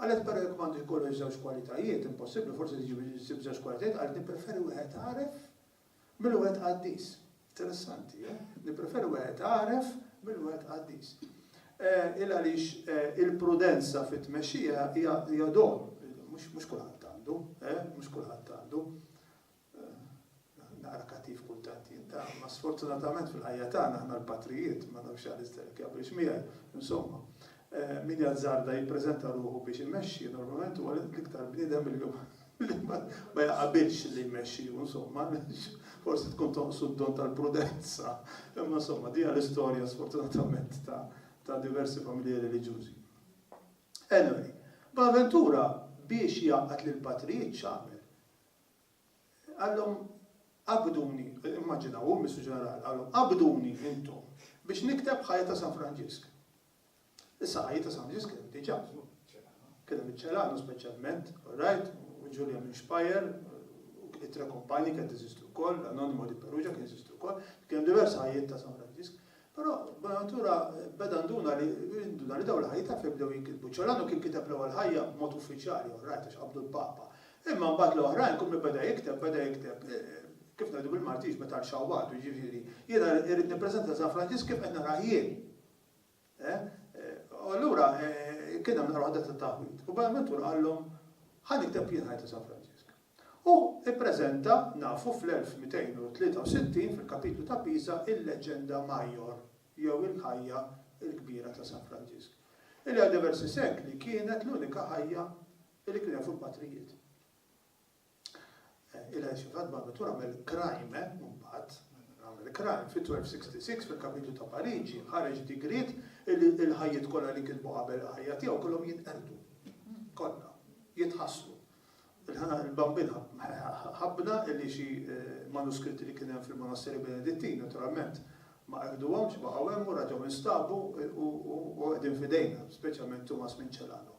Qalet, però jekk m'għandu jkollux żewġ kwalitajiet, impossibbli, forsi ssib żewġ kwalitajiet, qalet nippreferi wieħed għaref Mil wieħed qaddis. Interessanti, eh? Nippreferi wieħed għaref mil wieħed qaddis. Eh, il għaliex eh, il-prudenza fit-tmexxija hija don, mhux kulħadd għandu, eh, mhux kulħadd għandu. Naqra kattiv kultant jinta, ma sfortunatament fil-ħajja tagħna aħna l-patrijiet ma nafx għal isterek jaqbilx miegħi, insomma. Min jazzarda jippreżenta ruħu biex imexxi normalment huwa l-iktar bniedem illum li ma jaqabilx li jmexxiju insomma għaliex forsi tkun tonqsu d-don tal-prudenza. Imma insomma din hija l-istorja sfortunatament ta' ta' diversi familji reliġjużi. Anyway, Bonaventura biex jgħaqqad lill-patrijiet x'għamel? Qalhom għaqqduni, immaġinaw hu Mistru Ġenerali, qalhom għaqqduni intom biex nikteb ħajja ta' San Franġisk. Is-saqajjiet ta' San Ġiżkell diġà kienu miċ-Ċelano. Kien hemm iċ-Ċelano speċjalment, orajt, u Ġulja minn Speyer, u it-Tre Kumpani kienet teżisti wkoll, l-Anonimo di Perugia kien jeżisti wkoll, kien hemm diversi ħajjiet ta' San Franġisk. Però Bonaventura beda nduna li nduna li dawn il-ħajjiet taf li bdew jinkitbu. Ċelano kien kiteb l-ewwel ħajja b'mod uffiċjali, orajt, għax qabdu l-Papa. Imma mbagħad l-oħrajn kull min beda jikteb, beda jikteb, kif ngħidu bil-Malti, jiġbed għal xawwatu, jiġifieri, jiena irrid nippreżenta lil San Franġisk kif qed narah jien. U allura kien hemm naqra waħda ta' taħwid. U Bonaventur qallhom, Ħa nikteb jien ħajt ta' San Franġisk. U ppreżenta, nafu, fl-1263 fil-kapitlu ta' Pisa il-Legenda Maior, jew il-ħajja l-kbira ta' San Franġisk, illi għal diversi sekli kienet l-unika ħajja li kien hemm fuq il-patrijiet. Il-Għajxin f'Ħadma meta għamel Crime mbagħad, għamel Crime fil-1266 fil-Kapitlu ta' Pariġi ħareġ digriet illi l-ħajjiet kollha li kitbu qabel il-ħajja tiegħu kellhom jinqerdu. Kollha. Jitħassru. Il-Bambin ħabbna illi xi manuskritti li kien hemm fil-Monasteri Benedittin naturalment ma qerduhomx, baqgħu hemm u raġgħu nstabu u qegħdin f'idejna, speċjalment Tumas Minċelano.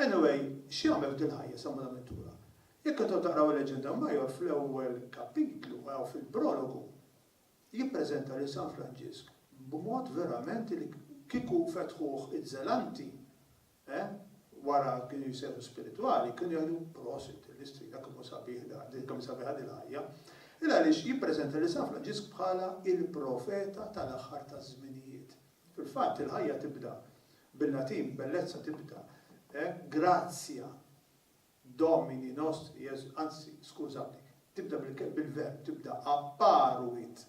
Anyway, x'jagħmel f'din il-ħajja San Bunaventura? Jekk intom taqraw il-Legenda Major fl-ewwel kapitlu u hawn fil-prologu, jippreżenta lil San Franġisk b'mod verament li kieku fetħuh iż-Żelanti, eh, wara kienu jsejħu spiritwali, kienu jgħidu, prosit, l-istrina kemm hu sabiħ dan, din kemm hi sabiħa din il-ħajja. Il-għaliex jippreżenta lil San Franġisk bħala il-profeta tal-aħħar taż-żminijiet. Fil-fatt il-ħajja tibda, bil-Latin bellezza tibda, eh, gratia Domini nostri Jesu, anzi, skużawni, tibda bil-ke, bil-verb, tibda apparuit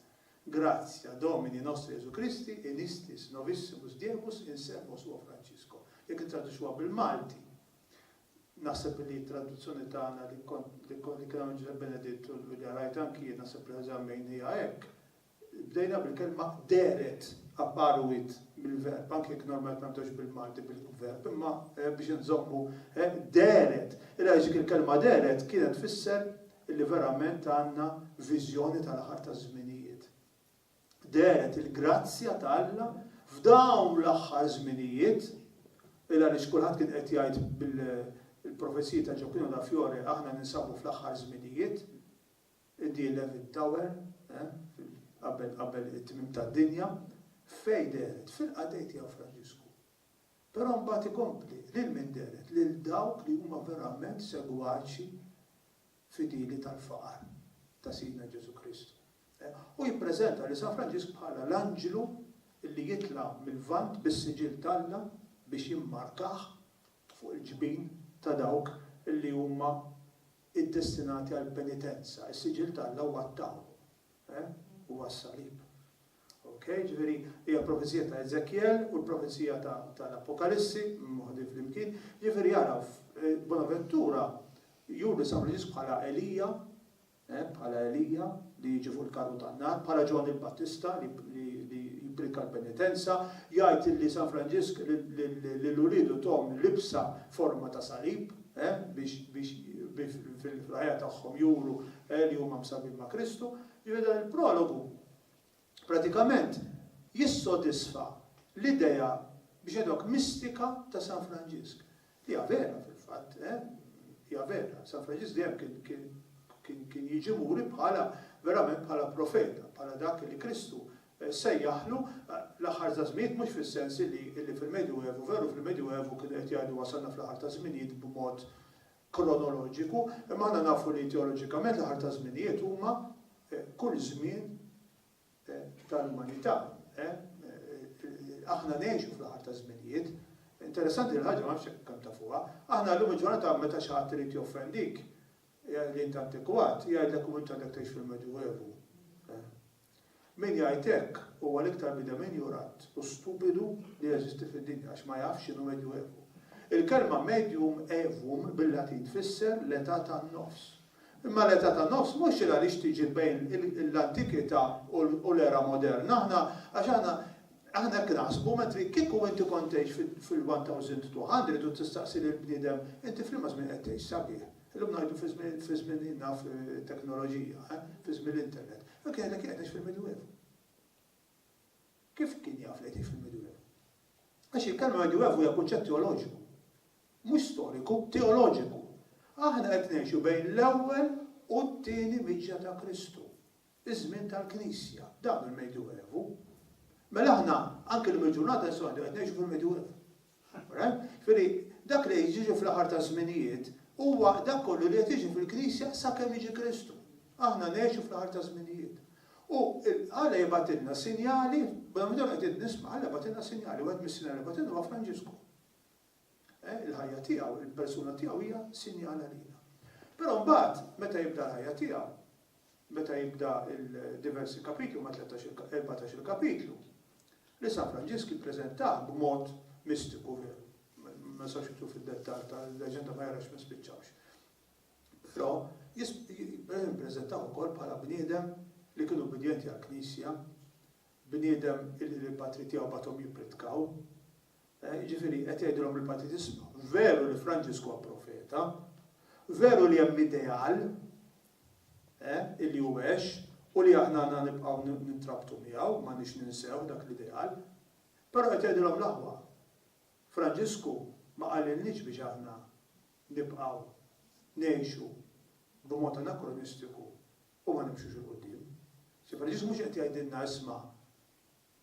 gratia Domini nostri Jesu Christi in istis novissimus diebus in servo suo Francisco. Jekk nittraduċuha bil-Malti, naħseb li t-traduzzjoni tagħna li kont li kien għamel Ġużepp Beneditt u li rajt anki jien naħseb li eżammejnija hekk, Bdejna bil-kelma dehret, apparuit mill-verb, anke jekk normalment ma nibdewx bil-Malti bil-verb, imma biex inżommu dehret. Il-għaliex dik il-kelma dehret kienet tfisser li verament għandna viżjoni tal-aħħar taż-żminijiet. Dehret il-grazzja ta' Alla f'dawn l-aħħar żminijiet, il-għaliex kulħadd kien qed jgħid bil-profeziji ta' Gioacchino da Fiore aħna ninsabu fl-aħħar żminijiet. Id-The Eleventh Tower, qabel qabel it-tmiem tad-dinja, f'fej dehret fil-qatgħi tiegħu Franġisku. Però mbagħad ikompli, lil min dehret? Lil dawk li huma verament segwaċi fidili tal-faqar ta' Sidna Ġesù Kristu. Hu jippreżenta lil San Franġisk bħala l-anġlu li jitla' mil-Lvant bis-siġill t'Alla biex jimmarkah fuq il-ġbin ta' dawk li huma iddestinati għall-penitenza, is-siġill t'Alla huwa t-tawnu, eh? huwa s-salib. Ok? Ġifieri, hija l-profezija ta' Eżekjel u l-profezija ta' l-Appokalissi moħdin flimkien. Ġifieri ara, Bonaventura juri San Franġisku bħala Elija, eh, bħala Elija li jiġi fuq il-karru tan-nar, bħala Ġwanni l-Battista li jipprika l-penitenza, jgħid li San Franġisk lil uliedu tahom libsa forma ta' salib, biex fil-ħajja tagħhom juru li huma msabbin ma' Kristu. Jiġifieri dan il-prologu pratikament jissodisfa l-idea biex ngħidulek mistika ta' San Franġisk. Li hija vera fil-fatt, hija vera. San Franġisk dejjem kien jiġi muri bħala verament bħala profeta, bħala dak li Kristu sejjaħlu l-aħħar taż-żminijiet mhux fis-sens illi illi fil-Medjuevu, veru fil-Medjuevu kienu qed jgħidu wasalna fl-aħħar taż-żminijiet b'mod kronoloġiku, imma aħna nafu li teoloġikament l-aħħar taż-żminijiet huma kull żmien tal-umanità. Aħna ngħixu fl-aħħar taż-żminijiet. Interessanti din il-ħaġa ma nafx jekk kemm tafuha. Aħna llum il-ġurnata meta xi ħadd irid joffendik li int antikwat, jgħidlek u int għadek tgħix fil-Medjuevu. Min jgħid hekk huwa l-iktar bniedem injorant u stupidu li jeżisti fid-dinja għax ma jafx x'inhu Medjuevu. Il-kelma medium aevum bil-Latin tfisser l-età tan-nofs. Imma l-età tan-nofs mhux xejn għaliex tiġi bejn l-antikità u l-era moderna. Aħna għax aħna aħna hekk naħsbu mentri kieku inti kont tgħix fil-1000 200 iridu tistaqsi lill-bniedem inti f'liema żmien qed tgħix sabiħ? Illum ngħidu fi żmien, fi żmien naf teknoloġija, eh, fi żmien l-internet. Dak jgħidlek qiegħed ngħix fil-Midwievu. Kif kien jaf li qed fil-Midwievu? Għax il-kelma Midwievu hija kunċett teoloġiku. Mhux storiku, teoloġiku. Aħna qed ngħixu bejn l-ewwel u t-tieni miġja ta' Kristu. iż-żmien tal-Knisja. Dawn il-Medjuevu. Mela aħna anki llum il-ġurnata nistgħu ngħidu qed ngħixu fil-Medjuevu. Alright? Jiġifieri dak li qed jiġi fl-aħħar taż-żminijiet huwa dak kollu li qed jiġi fil-Knisja sakemm jiġi Kristu. Aħna ngħixu fl-aħħar taż-żminijiet. U Alla jibgħatilna sinjali, madankollu qegħdin nisma' Alla jibgħatilna sinjali, wieħed mis-sinjali li jibgħatilna huwa Franġisku. Il-ħajja tiegħu, il-persuna tiegħu hija sinjal għalina. Però mbagħad meta jibda l-ħajja tiegħu, meta jibda il-diversi kapitli ma' 13-14 kapitlu, li San Franġisk ippreżentah b'mod mistiku veru. Ma sax jitlu fid-dettall tal-leġenda ma jarax ma spiċċawx. Però jippreżentaw ukoll bħala bniedem li kienu bidjenti għal knisja bniedem il-patri tiegħu batom jippritkaw, Jiġifieri, qed jgħidilhom il-Partit, isma', veru li Franġisku huwa profeta, veru li hemm ideal, eh, li hu għex u li aħna għandna nibqgħu nintrabtu miegħu, m'għandniex ninsew dak l-ideal. Però qed jgħidilhom l-aħwa, Franġisku ma qalilniex biex aħna nibqgħu ngħixu b'mod anakronistiku u ma nimxux 'il quddiem. Franġisku mhux qed jgħidilna isma',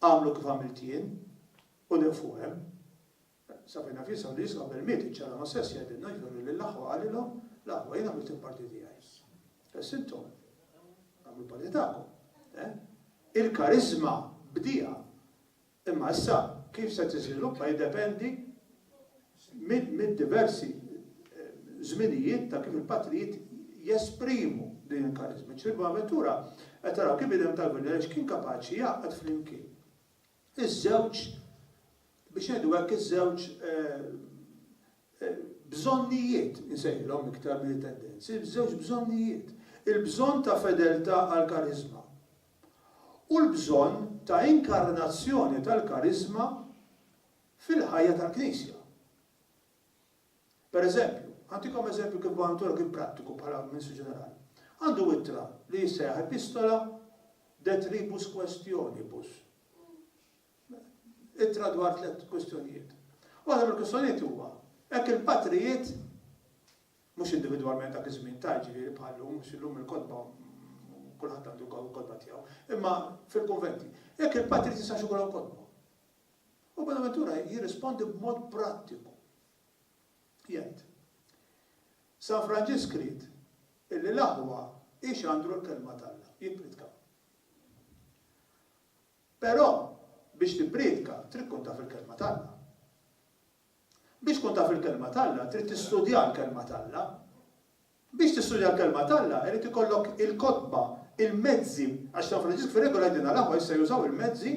Agħmlu kif għamilt jien, u nieqfu hemm. Safina f'jisha u l-Isqof Bermied iċċara ma' sess jgħidilna jfirru lill-aħwa qalilhom, L-aħwa, jien għamilt il-parti tiegħi. Issa intom, agħmlu l-parti tagħkom. Eh? Il-kariżma bdiha, imma issa kif se tiżviluppa jiddependi mid-diversi żminijiet ta' kif il-patrijiet jesprimu din il-kariżma. Ġifieri Bonaventura qed taraw kif bniedem tal-Gvern għaliex kien kapaċi jgħaqqad flimkien iż-żewġ, biex ngħidu hekk, iż-żewġ bżonnijiet, insejħilhom iktar milli tendenzi, iż-żewġ bżonnijiet, il-bżonn ta' fedeltà għall-kariżma u l-bżonn ta' inkarnazzjoni tal-kariżma fil-ħajja tal-Knisja. Pereżempju, ħantikom eżempju kif b'għan toroq kien prattiku bħala Ministru Ġenerali. Għandu ittra li jissejjaħ Epistola de Tribus Questionibus. Ittra dwar tliet kwistjonijiet. Waħda mill-kwistjonijiet huwa hekk il-patrijiet mhux individwalment dak iż-żmien ta' ġifieri bħallum mhux illum il-kotba kulħadd għandu kotba tiegħu, imma fil-konventi. Hekk il-patrijiet jistax ikollhom kotba. U Bonaventura jirrispondi b'mod prattiku. Jgħid, San Franġisk ried illi l-aħwa jxandru l-kelma t'Alla, jippriedkaw. Però biex tippriedka trid tkun taf il-kelma t'Alla. Biex tkun taf il-Kelma t'Alla, trid tistudja l-Kelma t'Alla. Biex tistudja l-Kelma t'Alla, irid ikollok il-kotba, il-mezzi, għax San Franġisk fir-regola jgħidilna l-aħwa issa jużaw il-mezzi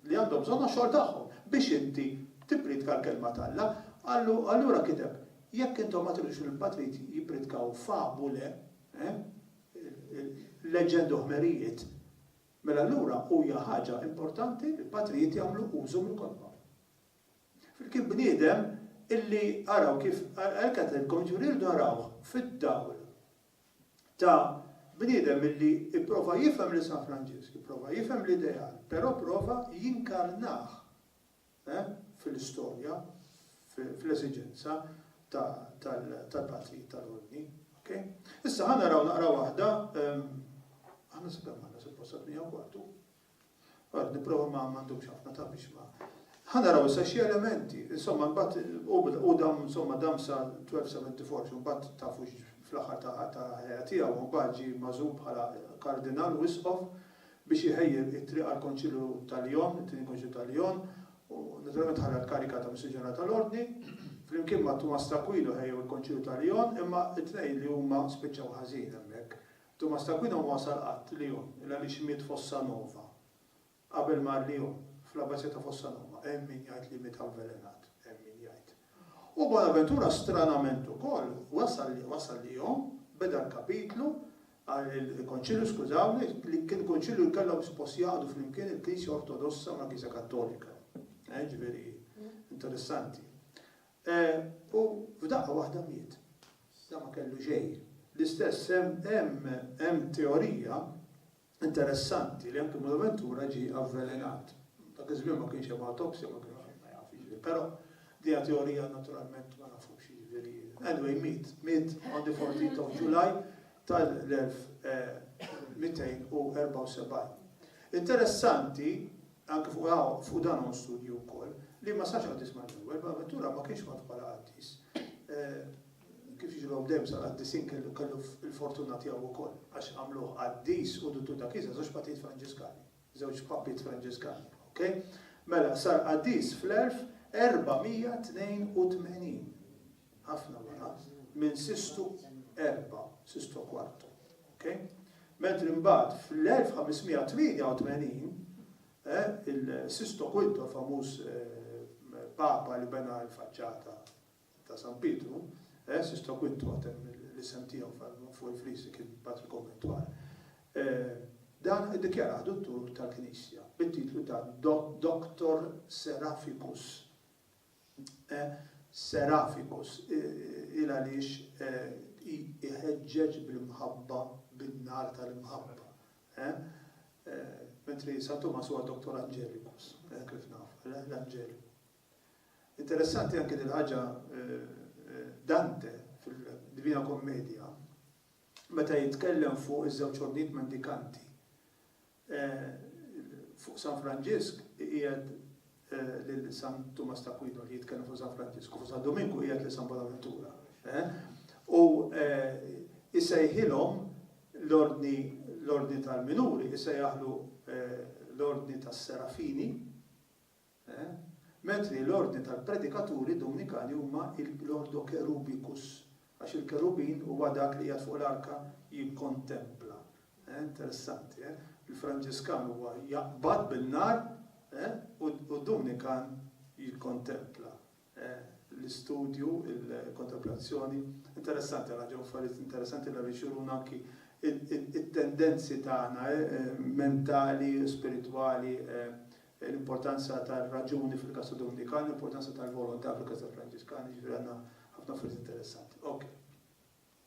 li għandhom bżonn għax-xogħol tagħhom, biex inti tippriedka l-Kelma t'Alla. Allura kiteb, Jekk intom ma tridux li l-patrid jippriedkaw fabule, leġġendi u ħmerijiet, mela allura huja ħaġa importanti li l-patrijiet jagħmlu użu mill-kotba. Flimkien bniedem illi araw kif għalhekk għedtilkom, jiġifieri irridu narawh fid-dawl ta' bniedem illi pprova jifhem lil San Franġisk, ipprova jifhem l-ideal, però pprova jinkarnah fil-istorja, fl-esiġenza tal-Patrijiet tal-Ordni. Issa ħa naraw naqra waħda, aħna sa kemm għandna, suppost sa tmija u kwartu? Għad nipprova ma ma ndumx ħafna ta' biex ma. Ħa naraw issa xi elementi, insomma mbagħad u bil- u dam insomma dam sa 1274 xi mbagħad tafu x' fl-aħħar ta' ta' ħajja tiegħu u mbagħad ġie magħżul bħala kardinal u isqof biex iħejji t-triq għall-Konċilju ta' Lyon, it-Tieni Konċilju ta' Lyon, u naturalment ħalla l-kariga ta' Missir Ġenerali tal-Ordni. Flimkien ma' Tumas t'Akwinu ħejjew il-Konċilju ta' Lyon, imma t-tnejn li huma spiċċaw ħażin hemmhekk. Tumas t'Akwina huwa sar qatt Lyon il għaliex miet Fossa Nova qabel mar Lyon, fl-Abbazija ta' Fossa Nova. Hemm min jgħid li miet avvelenat, hemm min jgħid. U Bonaventura stranament ukoll wasal wasal Lyon, beda l-kapitlu, il-Konċilju skużawni, li kien Kunċilju li kellhom suppost jgħaqdu flimkien il-Knisja Ortodossa mal-Knisja Kattolika. Ġifieri interessanti. U f'daqqa waħda miet. Dan ma kellu xejn. L-istess hemm hemm teorija interessanti li anki Bonaventura ġie avvelenat. Dak iż-żmien ma kienx hemm awtopsja ma kienu ħadd ma jaf jiġifieri. Però dejja teorija naturalment ma nafux jiġifieri. Anyway miet. Miet on the 14th of July tal-1274. Interessanti. Fuq dan hawn studju wkoll, li ma sarx qaddis mal-ewwel. Bonaventura ma kienx mgħarruf bħala qaddis. Kif jġrilhom dejjem sal-qaddisin kellu kellu l-fortuna tiegħu wkoll, għax għamluh qaddis u duttur ta' knisja, żewġ patijiet Franġiskani, żewġ papiet Franġiskani. Okej? Mela, sar qaddis fl-1482. ħafna wara, minn Sistu Erba', Sisto Quarto. Okay? Mentri mbagħad fl-1588, eh, il-Sisto Quinto, famuż eh, papa li bena l-faċċata ta' San Pietru, eh, Sisto Quinto għatem l-isem tiegħu fuq il-frisi kien patri konventual. Eh, dan iddikjara dottur tal-Knisja bit-titlu ta' Dr. Seraficus e Seraphicus, il għaliex i iħeġġeġ bl-imħabba bin-nar tal-imħabba, e Mentri San Tumas huwa Doctor Angelicus, e kif nafu, l l-Anġeliku. Interessanti anki dil-ħaġa e Dante fil-Divina Commedia meta jitkellem fuq iż-żewġ ħornijiet mendikanti, Fuq San Franġisk iqiegħed lil San Tumas t'Akwinu li jitkellem fuq San Franġisk u fuq San Duminku iqiegħed lil San Bonaventura. U jsejħilhom l-ordni l-ordni tal-minuri jsejjaħlu l-ordni tas-Serafini, Ment li l-ordni tal-predikaturi Dominikani huma l-Ordo Cherubicus, għax il-Kerubin huwa dak li qiegħed fuq l-Arka jikkontempla. Interessanti, eh? Il-Franġiskan huwa jaqbad bin-nar u d-Dominikan jikkontempla. l-istudju, il-kontemplazzjoni. Interessanti, għandna ġew affarijiet interessanti li għaliex juruna anki it-tendenzi tagħna mentali, spiritwali, l-importanza tar-raġuni fil-każ tad-Dominikani, l-importanza tal-volontà fil-każ tal-Franġiskani, jiġifieri għandna ħafna affarijiet interessanti. Ok.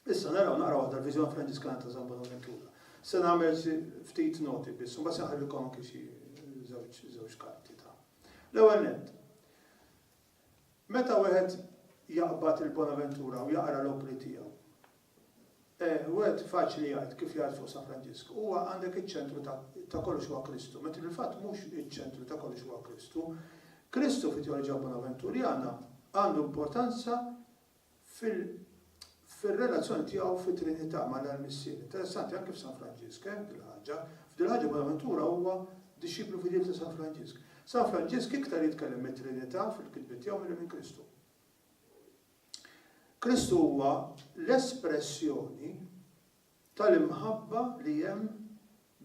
Issa naraw naqra waħda l-Viżjoni Franġiskana ta' San Bonaventura. Se nagħmel xi ftit noti biss, imbagħad se nħallilkom anke xi żewġ żewġ karti ta'. L-ewwel nett, meta wieħed jaqbad il-Bonaventura u jaqra l-opri tiegħu, eh, wieħed faċli jgħid kif jgħid fuq San Franġisk, huwa għandek iċ-ċentru ta' kollox huwa Kristu, meta fil-fatt mhux iċ-ċentru ta' kollox huwa Kristu. Kristu fit-teoloġija Bonaventurjana għandu importanza fil fir-relazzjoni tiegħu fit-Trinità mal-Alla l-Missier. Interessanti, anke f'San Franġisk, eh, dil-ħaġa. F'dil-ħaġa Bonaventura huwa dixxiplu fidil ta' San Franġisk. San Franġisk iktar jitkellem mit-Trinità fil-kitbiet tiegħu milli minn Kristu. Kristu huwa l-espressjoni tal-imħabba li hemm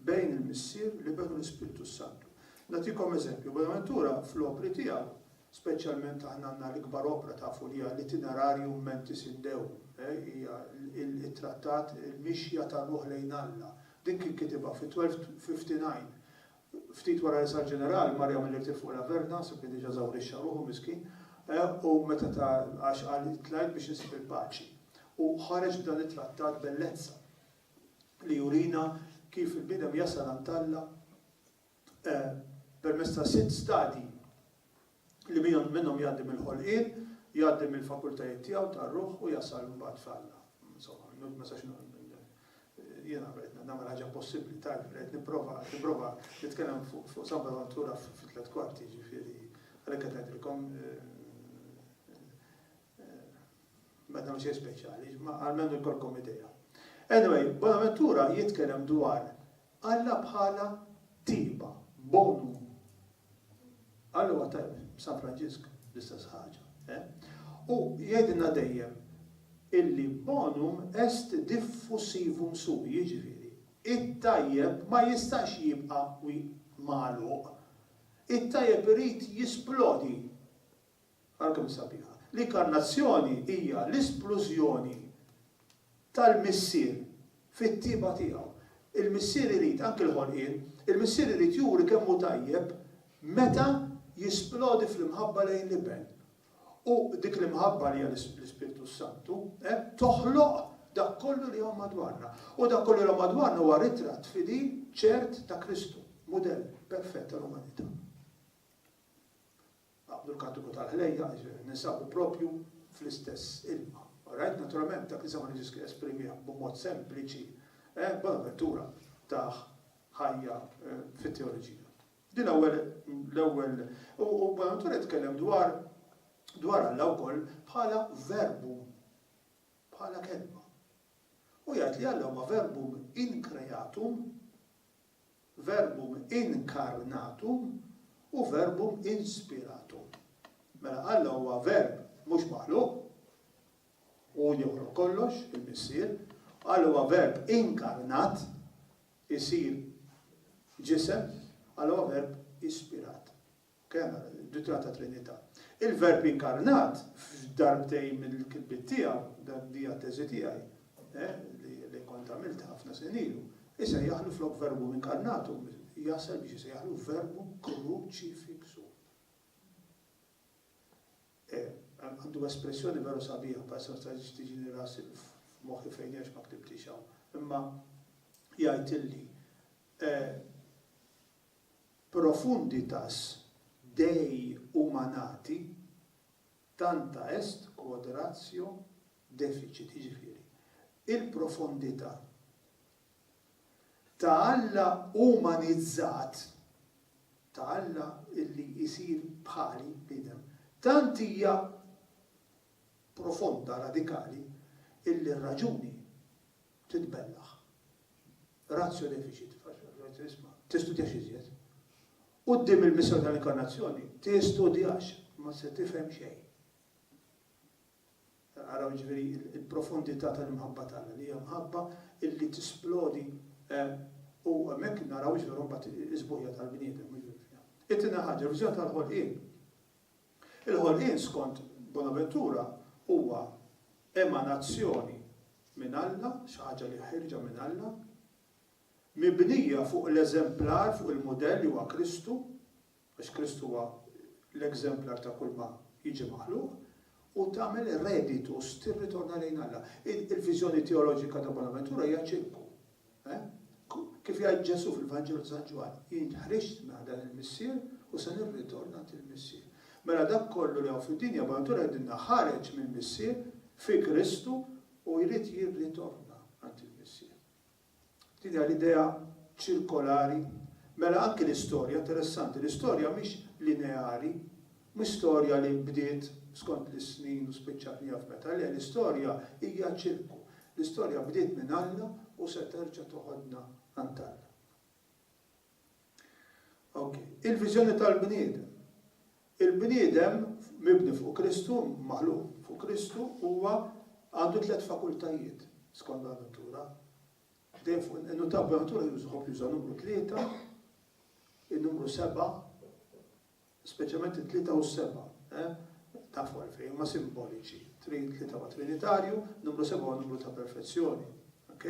bejn il-Missier, l-Iben u l-Ispirtu s-Santu. Nagħtikom eżempju, Buenaventura fl-opri tiegħu, speċjalment aħna għandna l-ikbar opra tafu li hija l-Itinerarium mentis in Deum, hija t-trattat Il-Mixja tar-Ruħ lejn Alla. Din kien kitibha fi 1259. Ftit wara li sar ġeneral, mar jagħmel irtir fuq l-Averna, sepp kien diġà eżawrixxa ruħu miskin, u meta ta, għax qal, Tlajt biex insib il-paċi. U ħareġ b'dan it-trattat bellezza li jurina kif il-bniedem jasal għand Alla permezz ta' sitt stadji li minnhom jgħaddi mill-ħolqien, jgħaddi mill-fakultajiet tiegħu tar-ruħ u jasal mbagħad f'Alla. Insomma, minnu ma sax jiena qed nagħmel ħaġa possibbli, tarf, qed nipprova, nipprova nitkellem fuq San Bonaventura fit-tliet kwarti, ġifieri, għalhekk qed ngħidilkom eh, Ma dawn xejn speċjali, ma almenu jkollkom idea. Anyway, Bonaventura jitkellem dwar Alla bħala tiba, bonum. Alla huwa tajb, San Franġisk l-istess ħaġa. U jgħidilna dejjem illi bonum est diffusivum sui, jiġifieri, it-tajjeb ma jistax jibqa' magħluq. It-tajjeb irid jisplodi. Ara kemm hi sabiħa! L-Inkarnazzjoni hija l-isplużjoni tal-Missier fit-tjieba tiegħu. Il-Missier irid, anki l-ħolqien, il-Missier irid juri kemm hu tajjeb meta jisplodi fl-imħabba lejn l-Iben. U dik l-imħabba li hija l-Ispirtu s-Santu, eh, toħloq dak kollu li hawn madwarna. U dak kollu li hawn madwarna huwa ritratt fidil, ċert ta' Kristu, mudell perfett tal-umanità. Qabdu l-kantiku tal-ħlejjaq, jiġifieri ninsabu proprju fl-istess ilma. Orajt? Naturalment, dak li sema' lil Ġesù esprimieh b'mod sempliċi, eh, Bonaventura tah ħajja fit-teoloġija. Din l-ewwel, l-ewwel, u Bonaventura jitkellem dwar, dwar Alla wkoll bħala verbum, bħala kelma. U jgħid li Alla huwa verbum in creatum, Verbum incarnatum u verbum inspiratum. Mela Alla huwa verb mhux maħluq, hu li joħloq kollox, il-Missier, u Alla huwa verb inkarnat, isir ġisem, Alla huwa verb ispirat. Kena, ritratta Trinità. Il-Verb inkarnat, f'darbtejn mill-kitbiet tiegħu, dak dija t-teżi tiegħi, li kont għamilt ħafna snin ilu, isejjaħlu flok Verbum incarnatum, jasal biex isejjaħlu Verbum crucifixum. Għandu espressjoni veru sabiħa, bħal sa staġiġ tiġini rasi f'moħħi fejn għax ma ktibtix hawn. Imma jgħid illi profunditas Dei humanati, tanta est quod ratio deficit, jiġifieri, il-profondità ta' Alla umanizzat, ta' Alla li jsir bħali, bniedem, tant hija profonda, radikali, illi r-raġuni, titbellaħ, ratio deficit, tistudjax iżjed. Quddiem il-misteri tal-Inkarnazzjoni tistudjax, ma se tifhem xejn. Araw jiġifieri l-profondità tal-imħabba t'Alla li hija mħabba illi tisplodi u hemmhekk naraw jiġifieri mbagħad is-sbuħija tal-bniedem. It-tieni ħaġa, il-viżjoni tal-ħolqien. Il-ħolqien skont Bonaventura huwa emanazzjoni minn Alla, xi ħaġa li ħierġa minn Alla, mibnija fuq l-eżemplar, fuq il-mudell li huwa Kristu, għax Kristu huwa l-eżemplar ta' kulma jiġi maħluq, u tagħmel reditus, tirritorna lejn Alla. Il-viżjoni teoloġika ta' Bonaventura hija ċirku. Kif jgħid Ġesù fil-Vanġelu ta' San Ġwann, Jien ħriġt minn għand dan il-Missier u se nirritorn għand il-Missier. Mela dak kollu li hawn fid-dinja bħala natura jgħidilna ħareġ mill-Missier fi Kristu u jrid jirritorna għand il-Missier. Din hija l-idea ċirkolari. Mela anki l-istorja, interessanti, l-istorja mhix lineari, L-istorja li bdiet skont l-isnin u spiċċat miegħu f'meta le, l-istorja hija ċirku. L-istorja bdiet minn Alla u se terġa' toħodna għand Alla. Ok, il-viżjoni tal-bniedem. Il-bniedem mibni fuq Kristu, maħluq fuq Kristu, huwa għandu tliet fakultajiet skont l-natura. Dejjem fuq in-natura jużħob juża numru tlieta, in-numru seba' Speċjalment it-tlieta u s-sebgħa, eh? Tafu għalfejn, huma simboliċi. Tlieta huwa trinitarju, numru sebgħa huwa numru ta' perfezzjoni. Ok?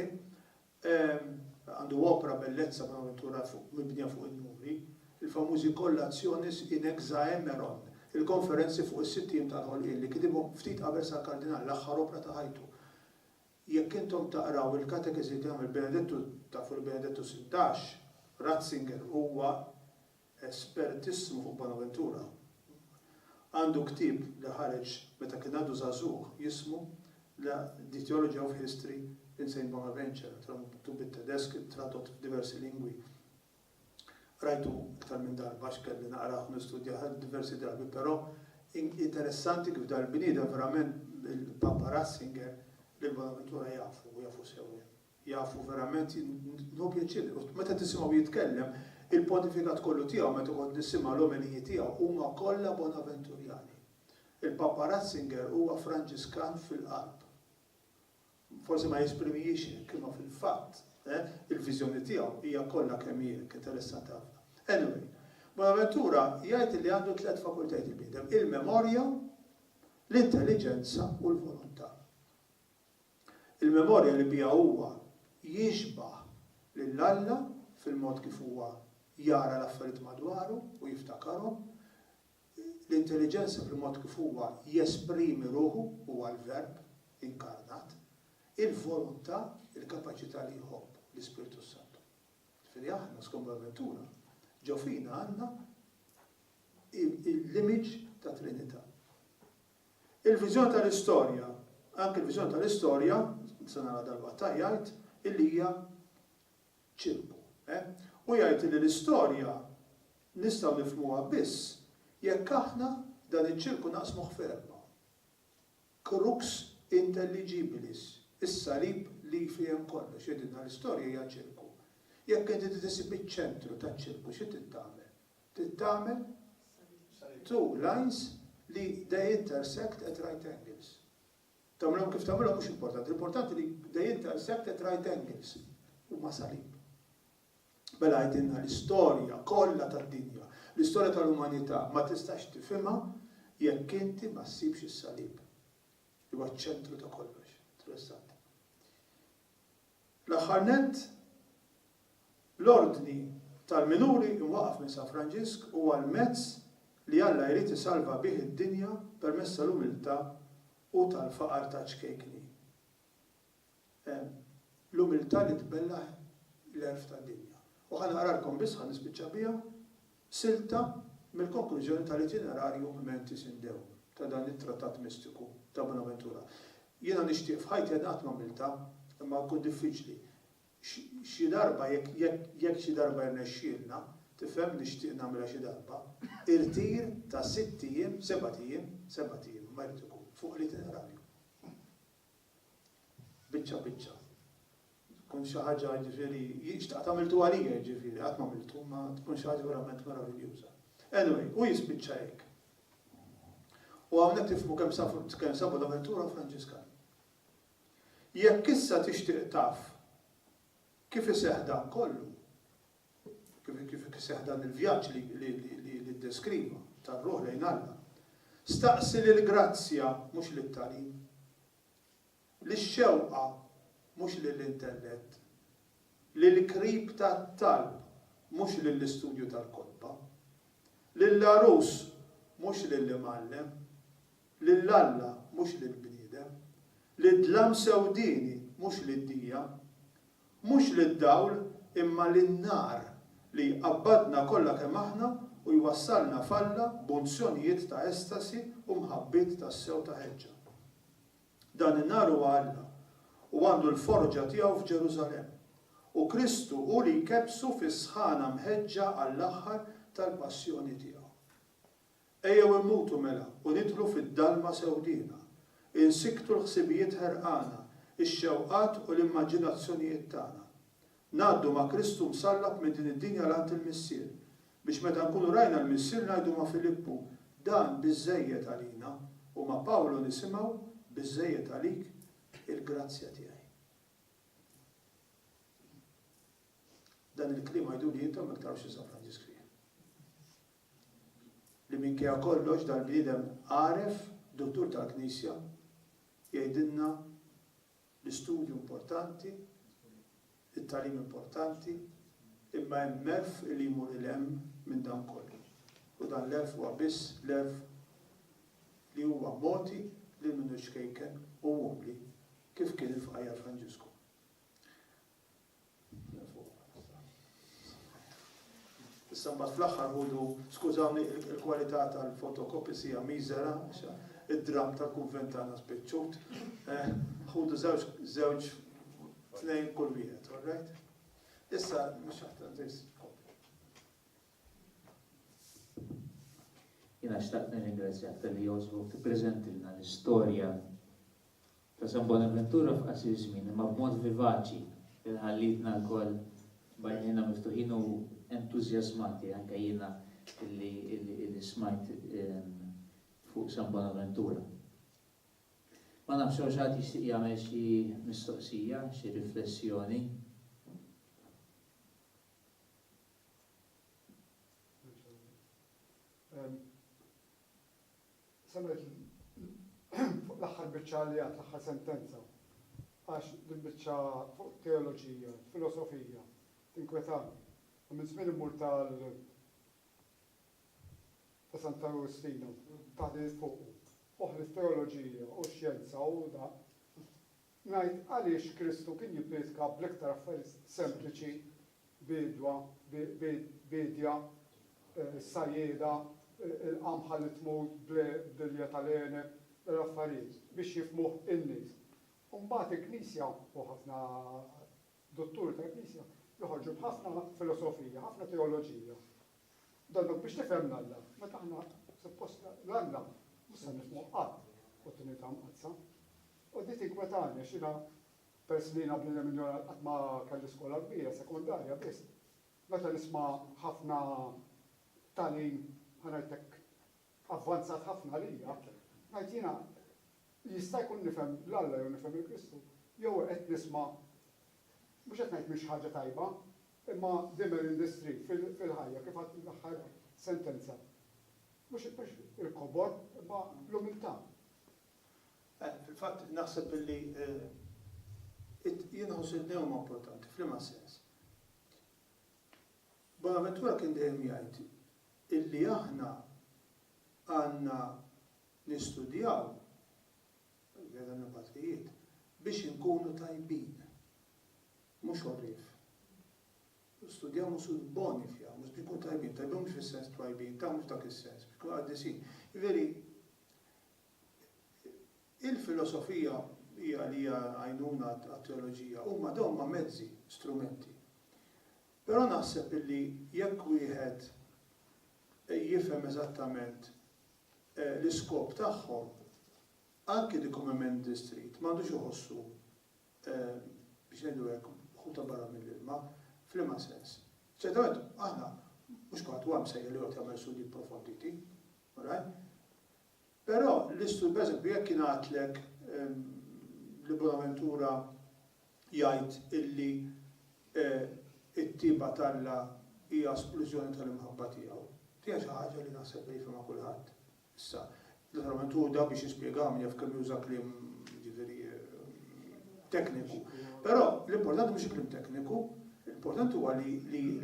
Għandu opra bellezza bonaventura mibnija fuq in-numri, il-famużi Collationes in Hexaemeron, il-konferenzi fuq is-sitt ijiem tal-ħolqien li kitibhom ftit qabel sar Kardinal, l-aħħar opra ta' ħajtu. Jekk intom taqraw il-katekeżi li għamel Benedettu, tafu li Benedettu Sittax, Ratzinger, huwa espertissimu fuq Bonaventura, għandu ktieb li ħareġ meta kien għadu żagħżugħ jismu La the theology of history in Saint Bonaventure, naturalment miktub bit-Tedesk, tradott f'diversi lingwi. Qrajtu iktar minn darba għax kelli naqrah u nistudjah diversi drabi, però interessanti kif dal-bniedem verament il-Papa Ratzinger lil Bonaventura jafu u jafu sew. Jafu verament nieħu pjaċir li meta tisimgħu jitkellem il-pontifikat kollu tiegħu meta kont nisimgħa l-omeliji tiegħu huma kollha Bonaventurjani. Il-Papa Ratzinger huwa Franġiskan fil-qalb. Forsi ma jesprimihiex hekk imma fil-fatt il-viżjoni tiegħu hija kollha kemm hi hekk, interessanti ħafna. Anyway, Bonaventura jgħid li għandu tliet fakultajt il-bniedem, il-memorja, l-intelliġenza u l-volontà. Il-memorja li biha huwa jixbah lil Alla fil-mod kif huwa jara l-affarijiet madwaru u jiftakarhom, l-intelliġenza fil-mod kif huwa jesprimi ruħu, huwa l-Verb inkarnat, il-volontà, il-kapaċità li jħobb, l-Ispirtu s-Santu. Ġifieri aħna skont Bonaventura ġo fina għandna l-image tat-Trinità. Il-viżjoni tal-istorja, anke l-viżjoni tal-istorja, se nara dalwaqt, jgħid illi hija ċirku. Hu jgħid illi l-istorja nistgħu nifhmuha biss jekk aħna dan iċ-ċirku naqsmuh f'erbgħa, crux intelligibilis, is-salib li jfiehem kollox, jgħidilna l-istorja hija ċirku. Jekk inti trid issib iċ-ċentru taċ-ċirku, xi trid tagħmel? Trid tagħmel two lines li they intersect at right angles. Tagħmilhom kif tagħmilhom mhux importanti, l-importanti li they intersect at right angles, huma salib. Mela għidilna l-istorja kollha tad-dinja, l-istorja tal-umanità ma tistax tifhimha jekk inti ma ssibx is-salib. Huwa ċ-ċentru ta' kollox. Interessant. Fl-aħħar nett, l-Ordni tal-Minuri imwaqqaf minn San Franġisk huwa l-mezz li Alla jrid isalva bih id-dinja permezz tal-umiltà u tal-faqar ta' ċkejkni. Hemm l-umiltà li tbellaħ l-għerf tad-dinja. U ħa naqralkom biss, ħa nispiċċa biha, Silta mill-konklużjoni tal-Itinerarium Mentis in Deo, ta' dan it-trattat mistiku ta' Bonaventura. Jiena nixtieq f'ħajti għad qatt m'għamiltha, imma jkun diffiċli. Xi darba jekk, jekk, jekk xi darba jirnexxielna, tifhem, nixtieq nagħmilha xi darba, irtir ta' sitt ijiem, sebat ijiem, sebat ijiem imma jrid ikun, fuq l-Itinerarium. Biċċa biċċa. Tkun xi ħaġa jiġifieri, xtaqt għamiltu għalija jiġifieri, qatt m'għamiltu, imma tkun xi ħaġa verament meraviljuża. Anyway, u jispiċċa hekk. U hawnhekk tifhmu kemm sabu l-avventura Franġiskan. Jekk issa tixtieq taf kif iseħħ dan kollu, kif iseħħ dan il-vjaġġ li ddeskriva tar-ruħ lejn Alla. Staqsi lill-grazzja, mhux lit-tagħlim, lix-xewqa, mhux lill-intellett, lill-qrib tat-talb, mhux lill-istudju tal-kotba, lill-għarus, mhux lill-imgħallem. Lil Alla, mhux lill-bniedem. Lid-dlam sewdieni, mhux lid-dija. Mhux lid-dawl, imma lin-nar, li jqabbadna kollha kemm aħna u jwassalna f'Alla b'unzjonijiet ta' estasi u mħabbiet tassew ta' ħeġġa. Dan in-nar huwa Alla, u għandu l-forġa tiegħu f'Ġerusalemm, u Kristu hu li jkebbsu fis-sħana mħeġġa għall-aħħar tal-passjoni tiegħu. Ejjew immutu mela u nidħlu fid-dalma sewdiena. Insikktu l-ħsibijiet ħerqana, ix-xewqat u l-immaġinazzjonijiet tagħna. Ngħaddu ma' Kristu msallab minn din id-dinja 'l għand il-Missier, biex meta nkunu rajna l-Missier ngħidu ma' Filippu, Dan biżżejjed għalina, u ma' Pawlu nisimgħu, Biżżejjed għalik il-grazzja tiegħi. Dan il-kliem għiduli intom jekk tarafx li San Franġisk fih. li minkejja kollox dal-bniedem għaref, duttur tal-Knisja, jgħidilna l-istudju importanti, it-tagħlim importanti, imma hemm għerf li jmur 'il hemm minn dan kollu, u dan l-għerf huwa biss l-għerf li huwa mogħti lil min hu ċkejken u umli kif kien il-Fqajjar Franġisku. Issa mbagħad fl-aħħar ħudu, skużawni il-kwalità tal-fotokopis hija miżera, id-dramm tal-kunvent tagħna spiċċut. Eh, ħudu żewġ żewġ tnejn kull wieħed, all right? Issa mhux aħtar Jiena xtaqt nirringrazzjak talli jogħġbok tippreżentilna l-istorja ta' San Bonaventura f'qasir żmien imma b'mod vivaċi li ħallitna lkoll bajnejna miftuħin u entużjażmati anke jiena illi smajt fuq San Bonaventura. Ma nafx hawn xi ħadd jixtieq jagħmel xi mistoqsija, xi riflessjoni. Samet fuq l-aħħar biċċa li għad l-aħħar sentenza għax din biċċa fuq teoloġija, filosofija, tinkwetan. U minn żmien immur tal ta' Santa Agostino, taħdi fuq. Uħli teoloġija u xjenza u da ngħid għaliex Kristu kien jippriedka bl-iktar affarijiet sempliċi, biedwa, biedja, sajjieda, il-qamħa li tmut bl-ilja tal-għeneb, l-affarijiet biex jifhmuh in-nies. U mbagħad il-Knisja u ħafna dutturi tal-Knisja joħorġu b'ħafna filosofija, ħafna teoloġija, Donnok biex tifhem l-Alla, meta aħna suppost l-Alla mhux se nifhmuh qatt f'Trinità Mqaddsa. U di tinkwetani għax jiena peress li jiena bniedem injoranti qatt ma kelli skola kbira, sekondarja biss. Meta nisma' ħafna tagħlim ħa ngħidlek avvanzat ħafna għalija, ngħid jiena jista' jkun nifhem l-Alla jew nifhem il-Kristu jew qed nisma' mhux qed ngħid mhix ħaġa tajba, Imma Dimmer Industry fil-ħajja, kif għad fl-aħħar sentenza, mhux il-kobor, imma l-umiltà. Fil-fatt, naħseb illi jien nħoss li huma importanti. F'liema sens? Bonaventura kien dejjem jgħid illi aħna għandna nistudjaw, jgħidha minn patrijiet, biex inkunu tajbin. Mhux għarrief. Studjaw mhux sud boni fiha, mhux biex nkunu tajbin, tajbin mhux fis-sens twajbin, ta' mhux dak is-sens, biex nkunu qaddisin. Jiġifieri, il-filosofija hija li hija għajnuna għat-teoloġija, huma dawn huma mezzi, strumenti. Però naħseb illi jekk wieħed jifhem eżattament l-iskop tagħhom, anki the common man in the street m'għandux iħossu biex ngħidu hekk, ħuta barra mill-ilma, f'liema sens? Ċertament, aħna, mhux kulħadd huwa msejjel li joqgħod jagħmel studji pprofonditi, alright? Però l-istudju, pereżempju, jekk ingħatlek li Bonaventura jgħid illi t-tieba t'Alla hija splużjoni tal-imħabba tiegħu, din hija xi ħaġa li naħseb li jifhimha kulħadd. Issa, l-oħra methoda biex nispjegaha min jaf kemm juża kliem jiġifieri tekniku. Però l-importanti mhux il-kliem tekniku, l-importanti huwa li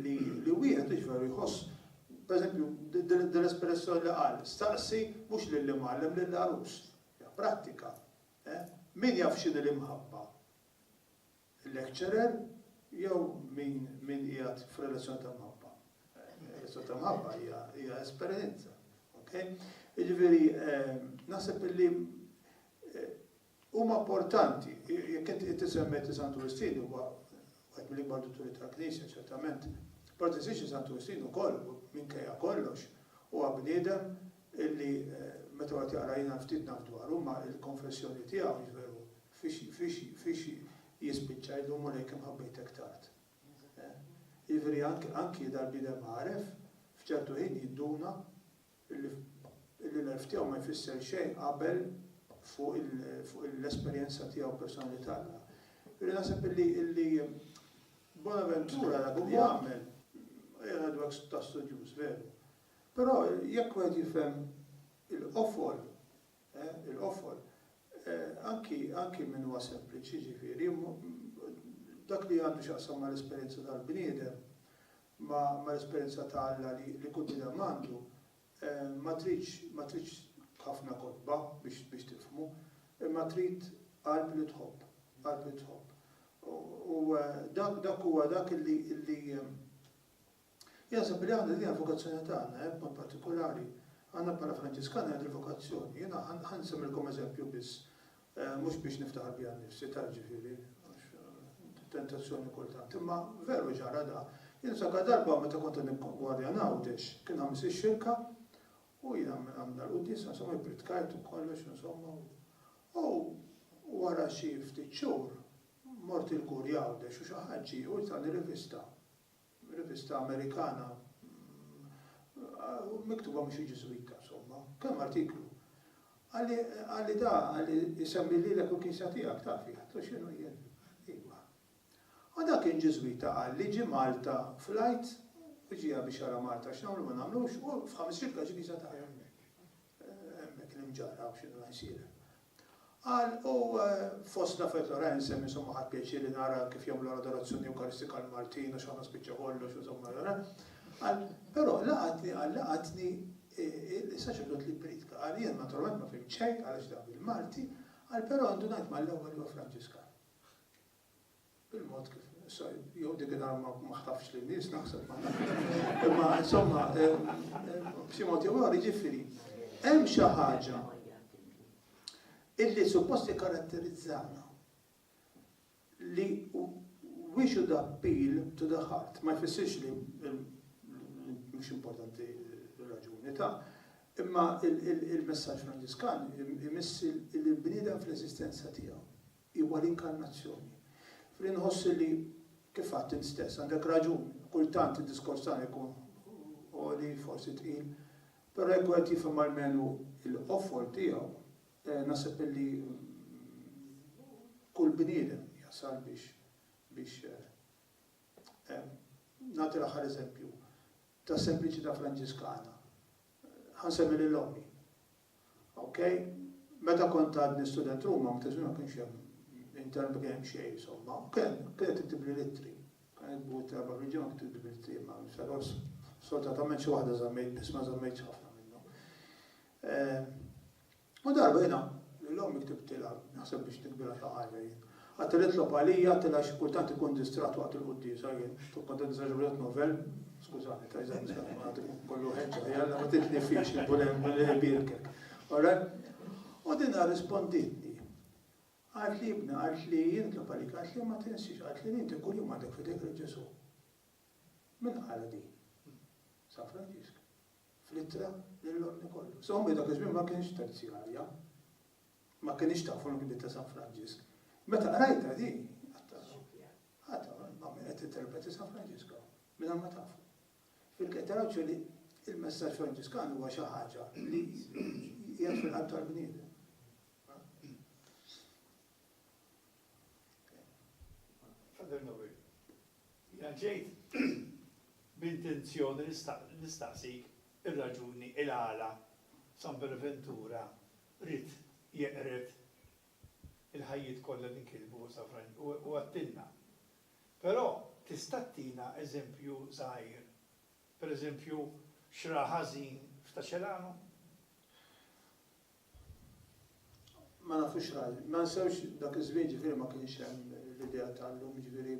li wieħed jiġifieri jħoss pereżempju dell-espressjoni li qal, staqsi mhux lill-imgħallem lill-għarus. Hija prattika. Min jaf x'inhi l-imħabba? lecturer jew min min qiegħed f'relazzjoni ta' mħabba. Relazzjoni ta' mħabba hija hija esperjenza. Okay? Jiġifieri naħseb li huma importanti, jekk inti tisemmi ti Santu Wistin huwa wieħed mill-ikbar dutturi tal-Knisja ċertament. Però tinsiex Santu Wistin ukoll minkejja kollox huwa bniedem illi meta wieħed jaqra jiena ftit naf dwaru imma l-konfessjoni tiegħu, jiġifieri fiex fiex jispiċċa jgħidlu Mulej kemm ħabbejtek tard. Jiġifieri anki anki dal-bniedem għaref f'ċertu ħin jinduna illi illi l-għerf tiegħu ma jfisser xejn qabel fuq il fuq l-esperjenza tiegħu personali t'Alla. Jiġifieri naħseb illi illi Bonaventura dak li għamel, qiegħed ngħidu hekk ta' studjuż veru, Però jekk wieħed jifhem il-qofol, il-qofol, anki, anki min huwa sempliċi, jiġifieri, dak li għandu x'jaqsam mal-esperjenza tal-bniedem, ma' l-esperjenza ta' Alla li li kull bniedem għandu, ma tridx, ma tridx ħafna kotba biex, biex tifhmu, imma trid qalb li tħobb, qalb li tħobb. U dak, dak huwa dak illi, illi, Jaħseb li għandha din hija l-vokazzjoni tagħna, hekk b'mod partikulari, aħna bħala Franġiskani għandna dil-vokazzjoni. Jiena ħa nsemmilkom eżempju biss, mhux biex niftaħar bija nnifsi, tard ġifieri, għax tentazzjoni kultant, imma veru ġara da. Jien niftakar darba meta kont qed nikkongwadja għan Għawdex, kien Ħamis ix-Xirka, u jiena għamilna l-quddiesa, insomma ippritkajt u kollox, insomma, u wara xi ftit xhur mort il-Kurja Għawdex u xi ħadd ġie u tani rivista Rivista Amerikana miktuba minn xi Ġiżwita, insomma. Kemm artiklu! Qalli, qalli da, qalli, isemmi lilek u l-Knisja tiegħek, taf, jien għedtlu x'inhu jien? Iva. U da kien Ġiżwita, qalli, ġie Malta flight u ġieha biex jara Malta x'nagħmlu ma nagħmlux u f'ħames ġimgħat ġie kisa tagħha hemmhekk. Hemmhekk l-imġarrab x'inhu jsir hemm. Qal, U fostna fil-Lorraine sem insomma ħadt pjaċir li nara kif jagħmlu l-Adorazzjoni Ewkaristika l-Maltin għax aħna spiċċa kollox insomma ra. Qal, Però laqatni qal laqatni is-saċerdot li ppriedka. Qal, Jien naturalment ma fhimt xejn għalax dan bil-Malti, qal, però indunajt mal-ewwel li huwa Franġiskan. Il-mod kif jew dik id-dar ma ħtafx lin-nies naħseb ma nafx. Imma insomma b'xi mod jew ieħor jiġifieri hemm xi ħaġa illi suppost ikkaratterizzana li we should appeal to the heart ma jfissirx li mhux importanti r-raġuni ta' imma il-messaġġ Franġiskan imiss il-bniedem fl-eżistenza tiegħu. Hi huwa l-inkarnazzjoni. F'li nħoss li, kif għadt int stess, għandek raġun, kultant id-diskors tagħna jkun għoli, forsi tqil, però jekk wieħed jifhem almenu l-qofol tiegħu, naħseb illi kull bniedem jasal biex biex nagħti l-aħħar eżempju tas-sempliċità Franġiskana. Ħa nsemmi lil ommi. Ok? Meta kont għadni student Ruma ma kienx ma kienx hemm internet ma kien hemm xejn insomma. Kien kienet tiktibli l-ittri. Kien jitbu ittra erba' ħriġi ma kienx tiktibli l-ittri ma xalos. Soltatament xi waħda żammejt biss ma żammejtx ħafna minnhom. U darba jiena lil ommi ktibtilha naħseb biex nikbilha xi ħaġa jien. Qatt li nitlob għalija, qatt li għax kultant ikun distratt waqt il-quddiesa jien, kont qed nisa xi wieħed novel, skużani ta' eżempju se nagħmel għad ikun kollu ħeġġa, jalla ma titnifix li Mulej Mulej ibierkek. Alright? U din arrispondietni. Qalt li ibna, qalt li jien nitlob għalik, qalt li ma tinsiex, qalt li inti kuljum għandek fidejk lil Ġesù. Min qala din? San Franġisk. Fl-ittra lil Lorni kollu. Sommi dak iż-żmien ma kienx terzjarja. Ma kinitx taf u l-Gdid ta' San Franġisk. Meta qrajtha di, għadt, għadd, ma' min qed tinterpreti San Franġisku, mingħajr ma taf. Fil-kejl tal-għawdxu li l-messaġġ Franġiskan huwa xi ħaġa li qiegħed fil-qalb tal-bniedem. Father Noel, jina ġejt b'intenzjoni nistaqsik ir-raġuni il-għala San Beneventura Ried jeqred il-ħajjiet kollha li nkitbu sa Franġ u u għattilna. Però tista' ttina eżempju żgħir, per eżempju x'ra ħażin f'Ta' Celano? Ma nafux x'ra ħażin. Ma nsewx dak iż-żmien ġifieri ma kienx hemm l-idea ta' llum jiġifieri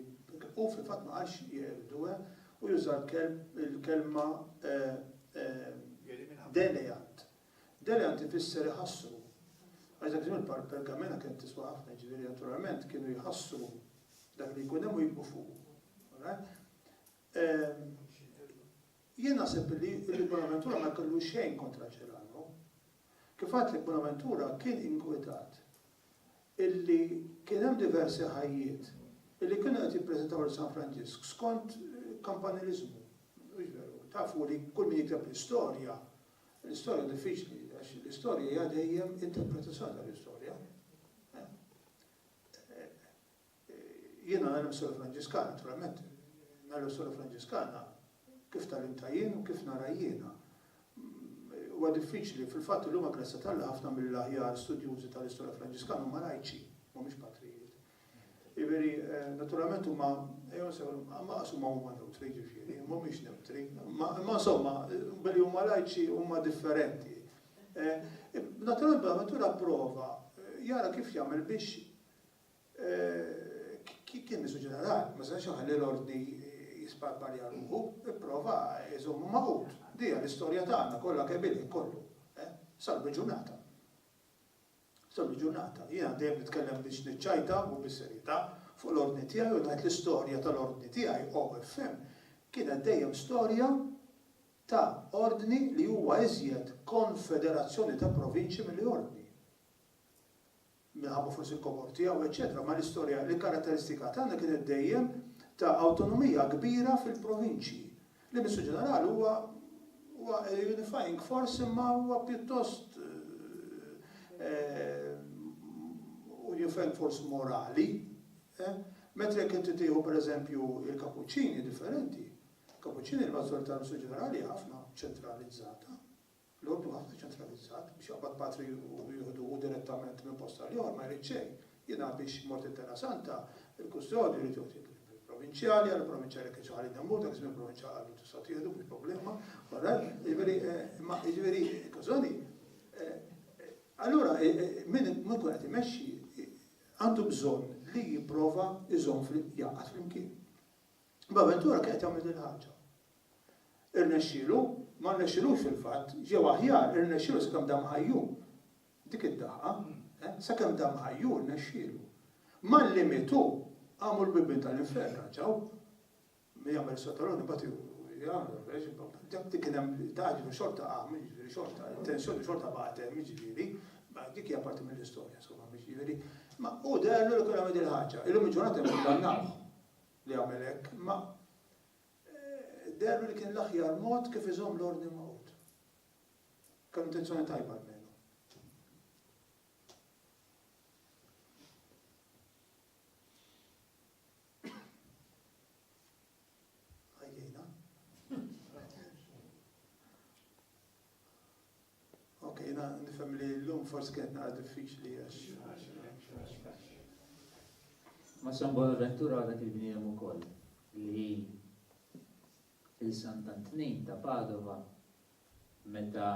hu fil-fatt ma qalx jeqredu eh hu juża l-kelb il-kelma eh eh deleat Deliant ifisser iħassru. Għax dak iż-żmien il-pergamena kienet tiswa ħafna, jiġifieri naturalment kienu jħassru dak li jkun hemm u jikbu fuqu. Jien naħseb li l-Bonaventura ma kellu xejn kontra Ċerano. Kif għad li Bonaventura kien inkwetat illi kien hemm diversi ħajjiet illi kienu qed jippreżentaw il San Franġisk skont kampanilizmu. Tafu li kull min jikteb l-istorja L-istorja diffiċli għax l-istorja hija dejjem interpretazzjoni tal-istorja. Jiena nagħlem sura Franġiskana, naturalment, nagħlem sura Franġiskana kif talimta jien u kif nara jiena. Huwa diffiċli fil-fatt li huma grazzja tal ħafna mill-aħjar studjużi tal-istorja Franġiskana huma lajċi, mhumiex patrijiet. Jiġifieri, naturalment huma, ejjew nsejħulhom, maqsuma huma newtri, jiġifieri, mhumiex newtri. Imma insomma, billi huma lajċi huma differenti. Naturalment Bonaventura pprova jara kif jagħmel biex kien nisu ġenerali, ma setax iħalli l-Ordni jisparparja ruħu, ipprova jżommu magħqud. Dija l-istorja tagħna kollha kemm ilha kollu, sal-biġunata. Sal-lum il-ġurnata, jiena dejjem nitkellem biex niċċajta u bis-serjetà fuq l-Ordni tiegħi u ngħid l-istorja tal-Ordni tiegħi, OFM, kienet dejjem storja ta' Ordni li huwa iżjed konfederazzjoni ta' provinċji milli Ordni, minħabba forsi l-kobor tiegħu, eċċetera, imma l-istorja, l-karatteristika tagħna kienet dejjem ta' awtonomija kbira fil-provinċji, L-Ministru Ġenerali huwa huwa a unifying force imma huwa pjuttost unifying force morali, mentri jekk inti tieħu pereżempju l-Kapuċċini differenti. Kapuċċini l-maġġorità tal-Ministru Ġenerali hija ħafna ċentralizzata. L-ordni huwa ħafna ċentralizzat, biex jaqbad patri u jieħdu hu direttament minn post għal ieħor ma jrid xejn. Jiena biex mort it-Terra Santa, il-kustodju jrid joħtih lill-provinċjali, għal il-provinċjali jekk kienx ħalli demmhu, dak iż-żmien il-provinċjal qallu tistgħu tieħdu mhux problema, wara, jiġifieri, imma jiġifieri, kosoni, allura min ikun qed imexxi għandu bżonn li jipprova jżomm jgħaqqad flimkien. B'avventura kienet jagħmel din il-ħaġa. Irnexxielu? Ma rnexxilux fil-fatt, jew aħjar, irnexxielu sakemm dam ħajju. Dik id-daqqa, eh, sakemm dam ħajju rnexxielu. Malli mietu, qamu l-bibien tal-infern raġaw. Min jagħmel is-sottaluni bagħad jagħmel kien hemm daħġi xorta qam, jiġifieri xorta, tensjoni xorta bagħad hemm, jiġifieri, dik hija parti mill-istorja, insomma, jiġifieri. Ma u derlu li kien għamel il-ħaġa, illum il-ġurnata jkun li għamel hekk, imma deherlu li kien l-aħjar mod kif iżomm l-ordni Magħqud. Kellu intenzjoni tajba almenu. Ok, jiena nifhem li llum forsi kienet naqra diffiċli għax. Ma San Bonaventura għadak il-bniedem ukoll li il-San Tantnin ta' Padova meta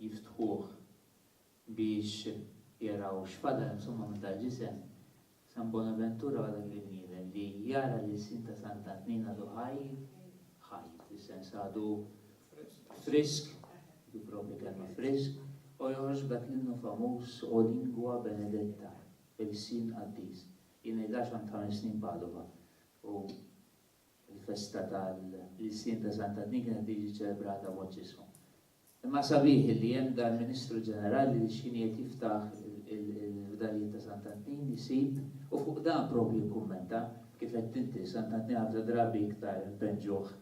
jiftħuh biex jaraw x'fadal insomma minn tal-ġisem San Bonaventura għadha kif bniedem li jara l-ilsien ta' Sant'Antnin għadu ħaj, ħaj, fis-sens għadu frisk, dik il-proprja kelma frisk, u joħroġ b'dak l-innu famuż O lingua benedetta, ilsien qaddis. Jien ngħidilha għax għamilt ħames snin Padova u l-festa tal-ilsien ta' Sant'Antnin kienet tiġi ċċelebrata b'mod ġismu. Imma sabiħ illi hemm dan ministru ġenerali li x'ħin qiegħed jiftaħ il-fdalijiet ta' Sant'Antnin jsib u fuq dan propju jikkummenta, kif għedt inti, Sant'Antnin ħafna drabi iktar npeġġuh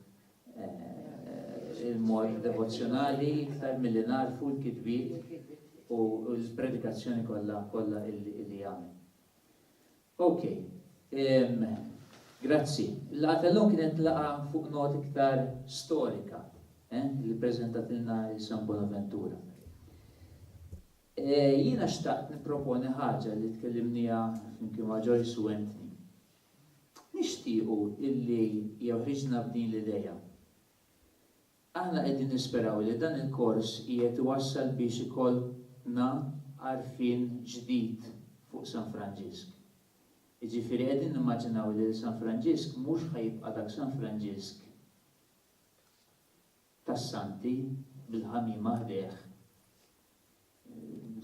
il-mod devozzjonali iktar milli nagħrfu l-kitbiet u l-predikazzjoni kollha kollha illi jagħmel. Ok. Ehm. Grazzi. Il-laqgħa tal-lum kienet laqgħa fuq nota iktar storika, eh, li ppreżentatilna il-San Bonaventura. Eh, jiena xtaqt nipproponi ħaġa li tkellimnija flimkien ma' Joyce u Anthony. Nixtiequ illi jeħriġna b'din l-idea. Aħna qegħdin nisperaw li dan il-kors qiegħed iwassal biex ikollna għarfien ġdid fuq San Franġisk. Jiġifieri qegħdin nimmaġinaw li San Franġisk mhux ħa jibqa' dak San Franġisk tas-Santi bil-ħamiema ħdejh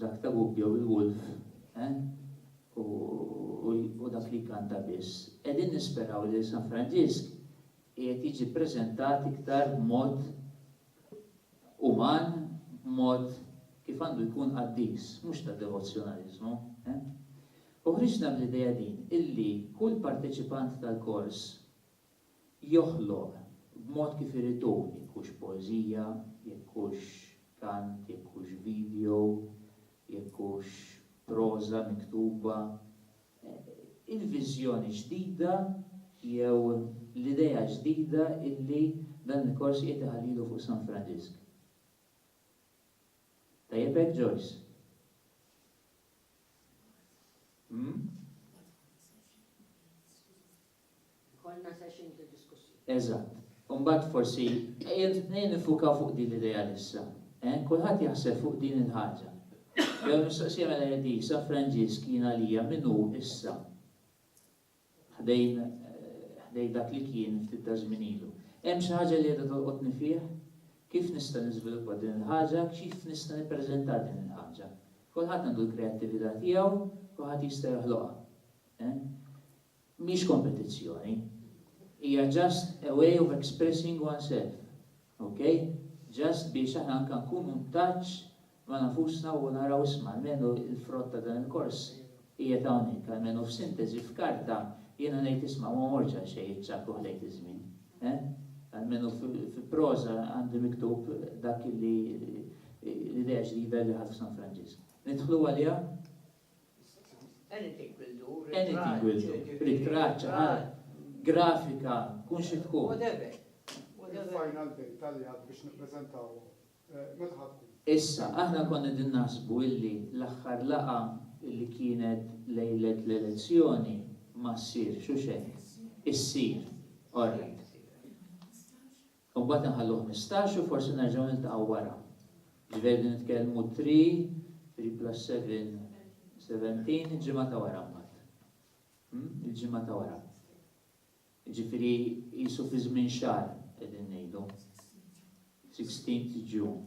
Dak ta' Gubbio il-Wolf, eh? U dak li jkanta biss. Qegħdin nisperaw li San Franġisk qiegħed jiġi ppreżentat iktar b'mod uman, b'mod kif għandu jkun qaddis, mhux ta' devozzjonaliżmu, eh? U ħriġna bl-idea din, illi kull parteċipant tal-kors, joħloq b'mod kif irid hu, jekk hux poeżija, jekk hux kant, jekk hux video, jekk hux proża miktuba, il-viżjoni ġdida jew l-idea ġdida illi dan il-kors qiegħed iħallilu fuq San Franġisk. Tajjeb hekk, Joyce? Hm? Ikollna session ta' diskussjoni. Eżatt. U mbagħad forsi ejja niffukaw fuq din l-idea issa. Eh? Kulħadd jaħseb fuq din il-ħaġa. Jew il-mistoqsija mela hi din, San Franġisk jien għalija min hu issa? Ħdejn ħdejn dak li kien ftit ta' żmien ilu. Hemm xi ħaġa li qiegħda tolqotni fih? Kif nista' niżviluppa din il-ħaġa? Kif nista' nippreżenta din il-ħaġa? Kulħadd għandu l-kreattività tiegħu, kulħadd jista' joħloqha. Eh? Mhix kompetizzjoni. Hija just a way of expressing oneself. Ok? Just biex aħna anke nkunu in touch ma' nafusna u naraw isma' almenu l-frott ta' dan il-kors qiegħed hawnhekk, almenu f'sinteżi f'karta jiena ngħid isma' ma mortx għal xejn iċ-ċakuħ lejt iż-żmien. Eħ? Almenu fi proża għandi miktub dak li l-idea ġdida li ħadt f'San Franġisk. Nidħlu għaliha? Anything will do. Ritratt, art, grafika, tkun xi tkun. Whatever. Il-final date tal-li għad biex nippreżentaw, meta ħa tkun? Issa, aħna konna qegħdin naħsbu illi l-aħħar laqgħa illi kienet lejlet l-elezzjoni ma ssirx, hux hekk? Issir. All right. U mbagħad inħallu ħmistax u forsi nerġgħu niltaqgħu wara. Jiġifieri qegħdin nitkellmu three, three plus seven, seventeen, il-ġimgħa ta' wara mbagħad. Hmm? Il-ġimgħa ta' wara. Jiġifieri qisu fi żmien xahar qegħdin ngħidu. 16 June.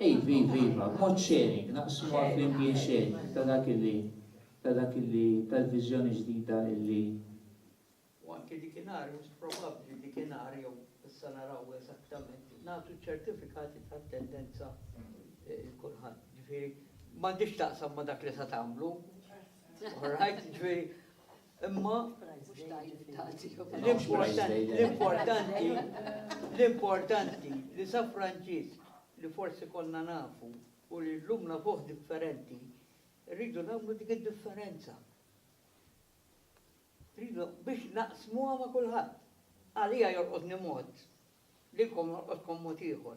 Iva, iva, iva, b'mod sharing, naqsmuha flimkien sharing ta' dak illi, ta' dak illi, tal-viżjoni ġdida illi. U anki dik inhar, mhux probabbli dik inhar jew issa naraw eżattament, nagħtu ċ-ċertifikati ta' attendenza lil kulħadd. Ġifieri, m'għandhiex x'taqsam ma' dak li se tagħmlu. All right? Ġifieri, Imma l-importanti l-importanti li sa Franġisk li forsi konna nafu u li llum nafuh differenti, rridu nagħmlu dik id-differenza. Rridu biex naqsmuha ma' kulħadd. Għalija jorqodni mod, lilkom jorqodkom mod ieħor.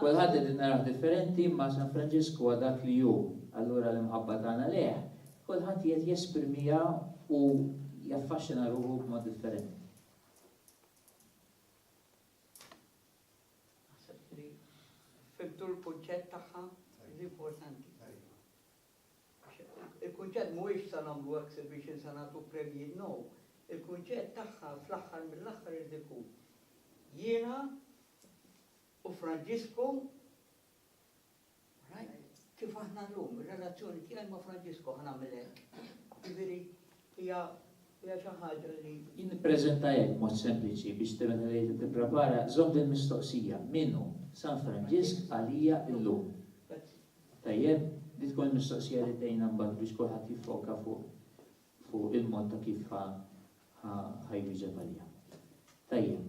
Kulħadd qegħdin narawh differenti imma San Franġisku huwa dak li hu, allura l-imħabba tagħna lejh, kulħadd qiegħed jesprimiha u jaffaxxina ruħu b'mod differenti. Naħseb li fimtu l-kunċett tagħha l-importanti. Il-kunċett mhuwiex sa nagħmlu exhibition sa nagħtu premji, no. Il-kunċett tagħha fl-aħħar mill-aħħar irid ikun jiena U Franġisku, rajt, kif aħna llum, ir-relazzjoni tiegħi ma' Franġisku ħa nagħmel hekk. Jiġifieri hija hija xi ħaġa li. Jien nippreżenta hekk mod sempliċi biex tibgħet għalija tipprepara, żomm din mistoqsija, min hu San Franġisk għalija llum? Tajjeb, li tkun il-mistoqsija li tgħinna mbagħad biex kulħadd jiffoka fuq fuq il-mod ta' kif ħa jwieġeb għalija. Tajjeb.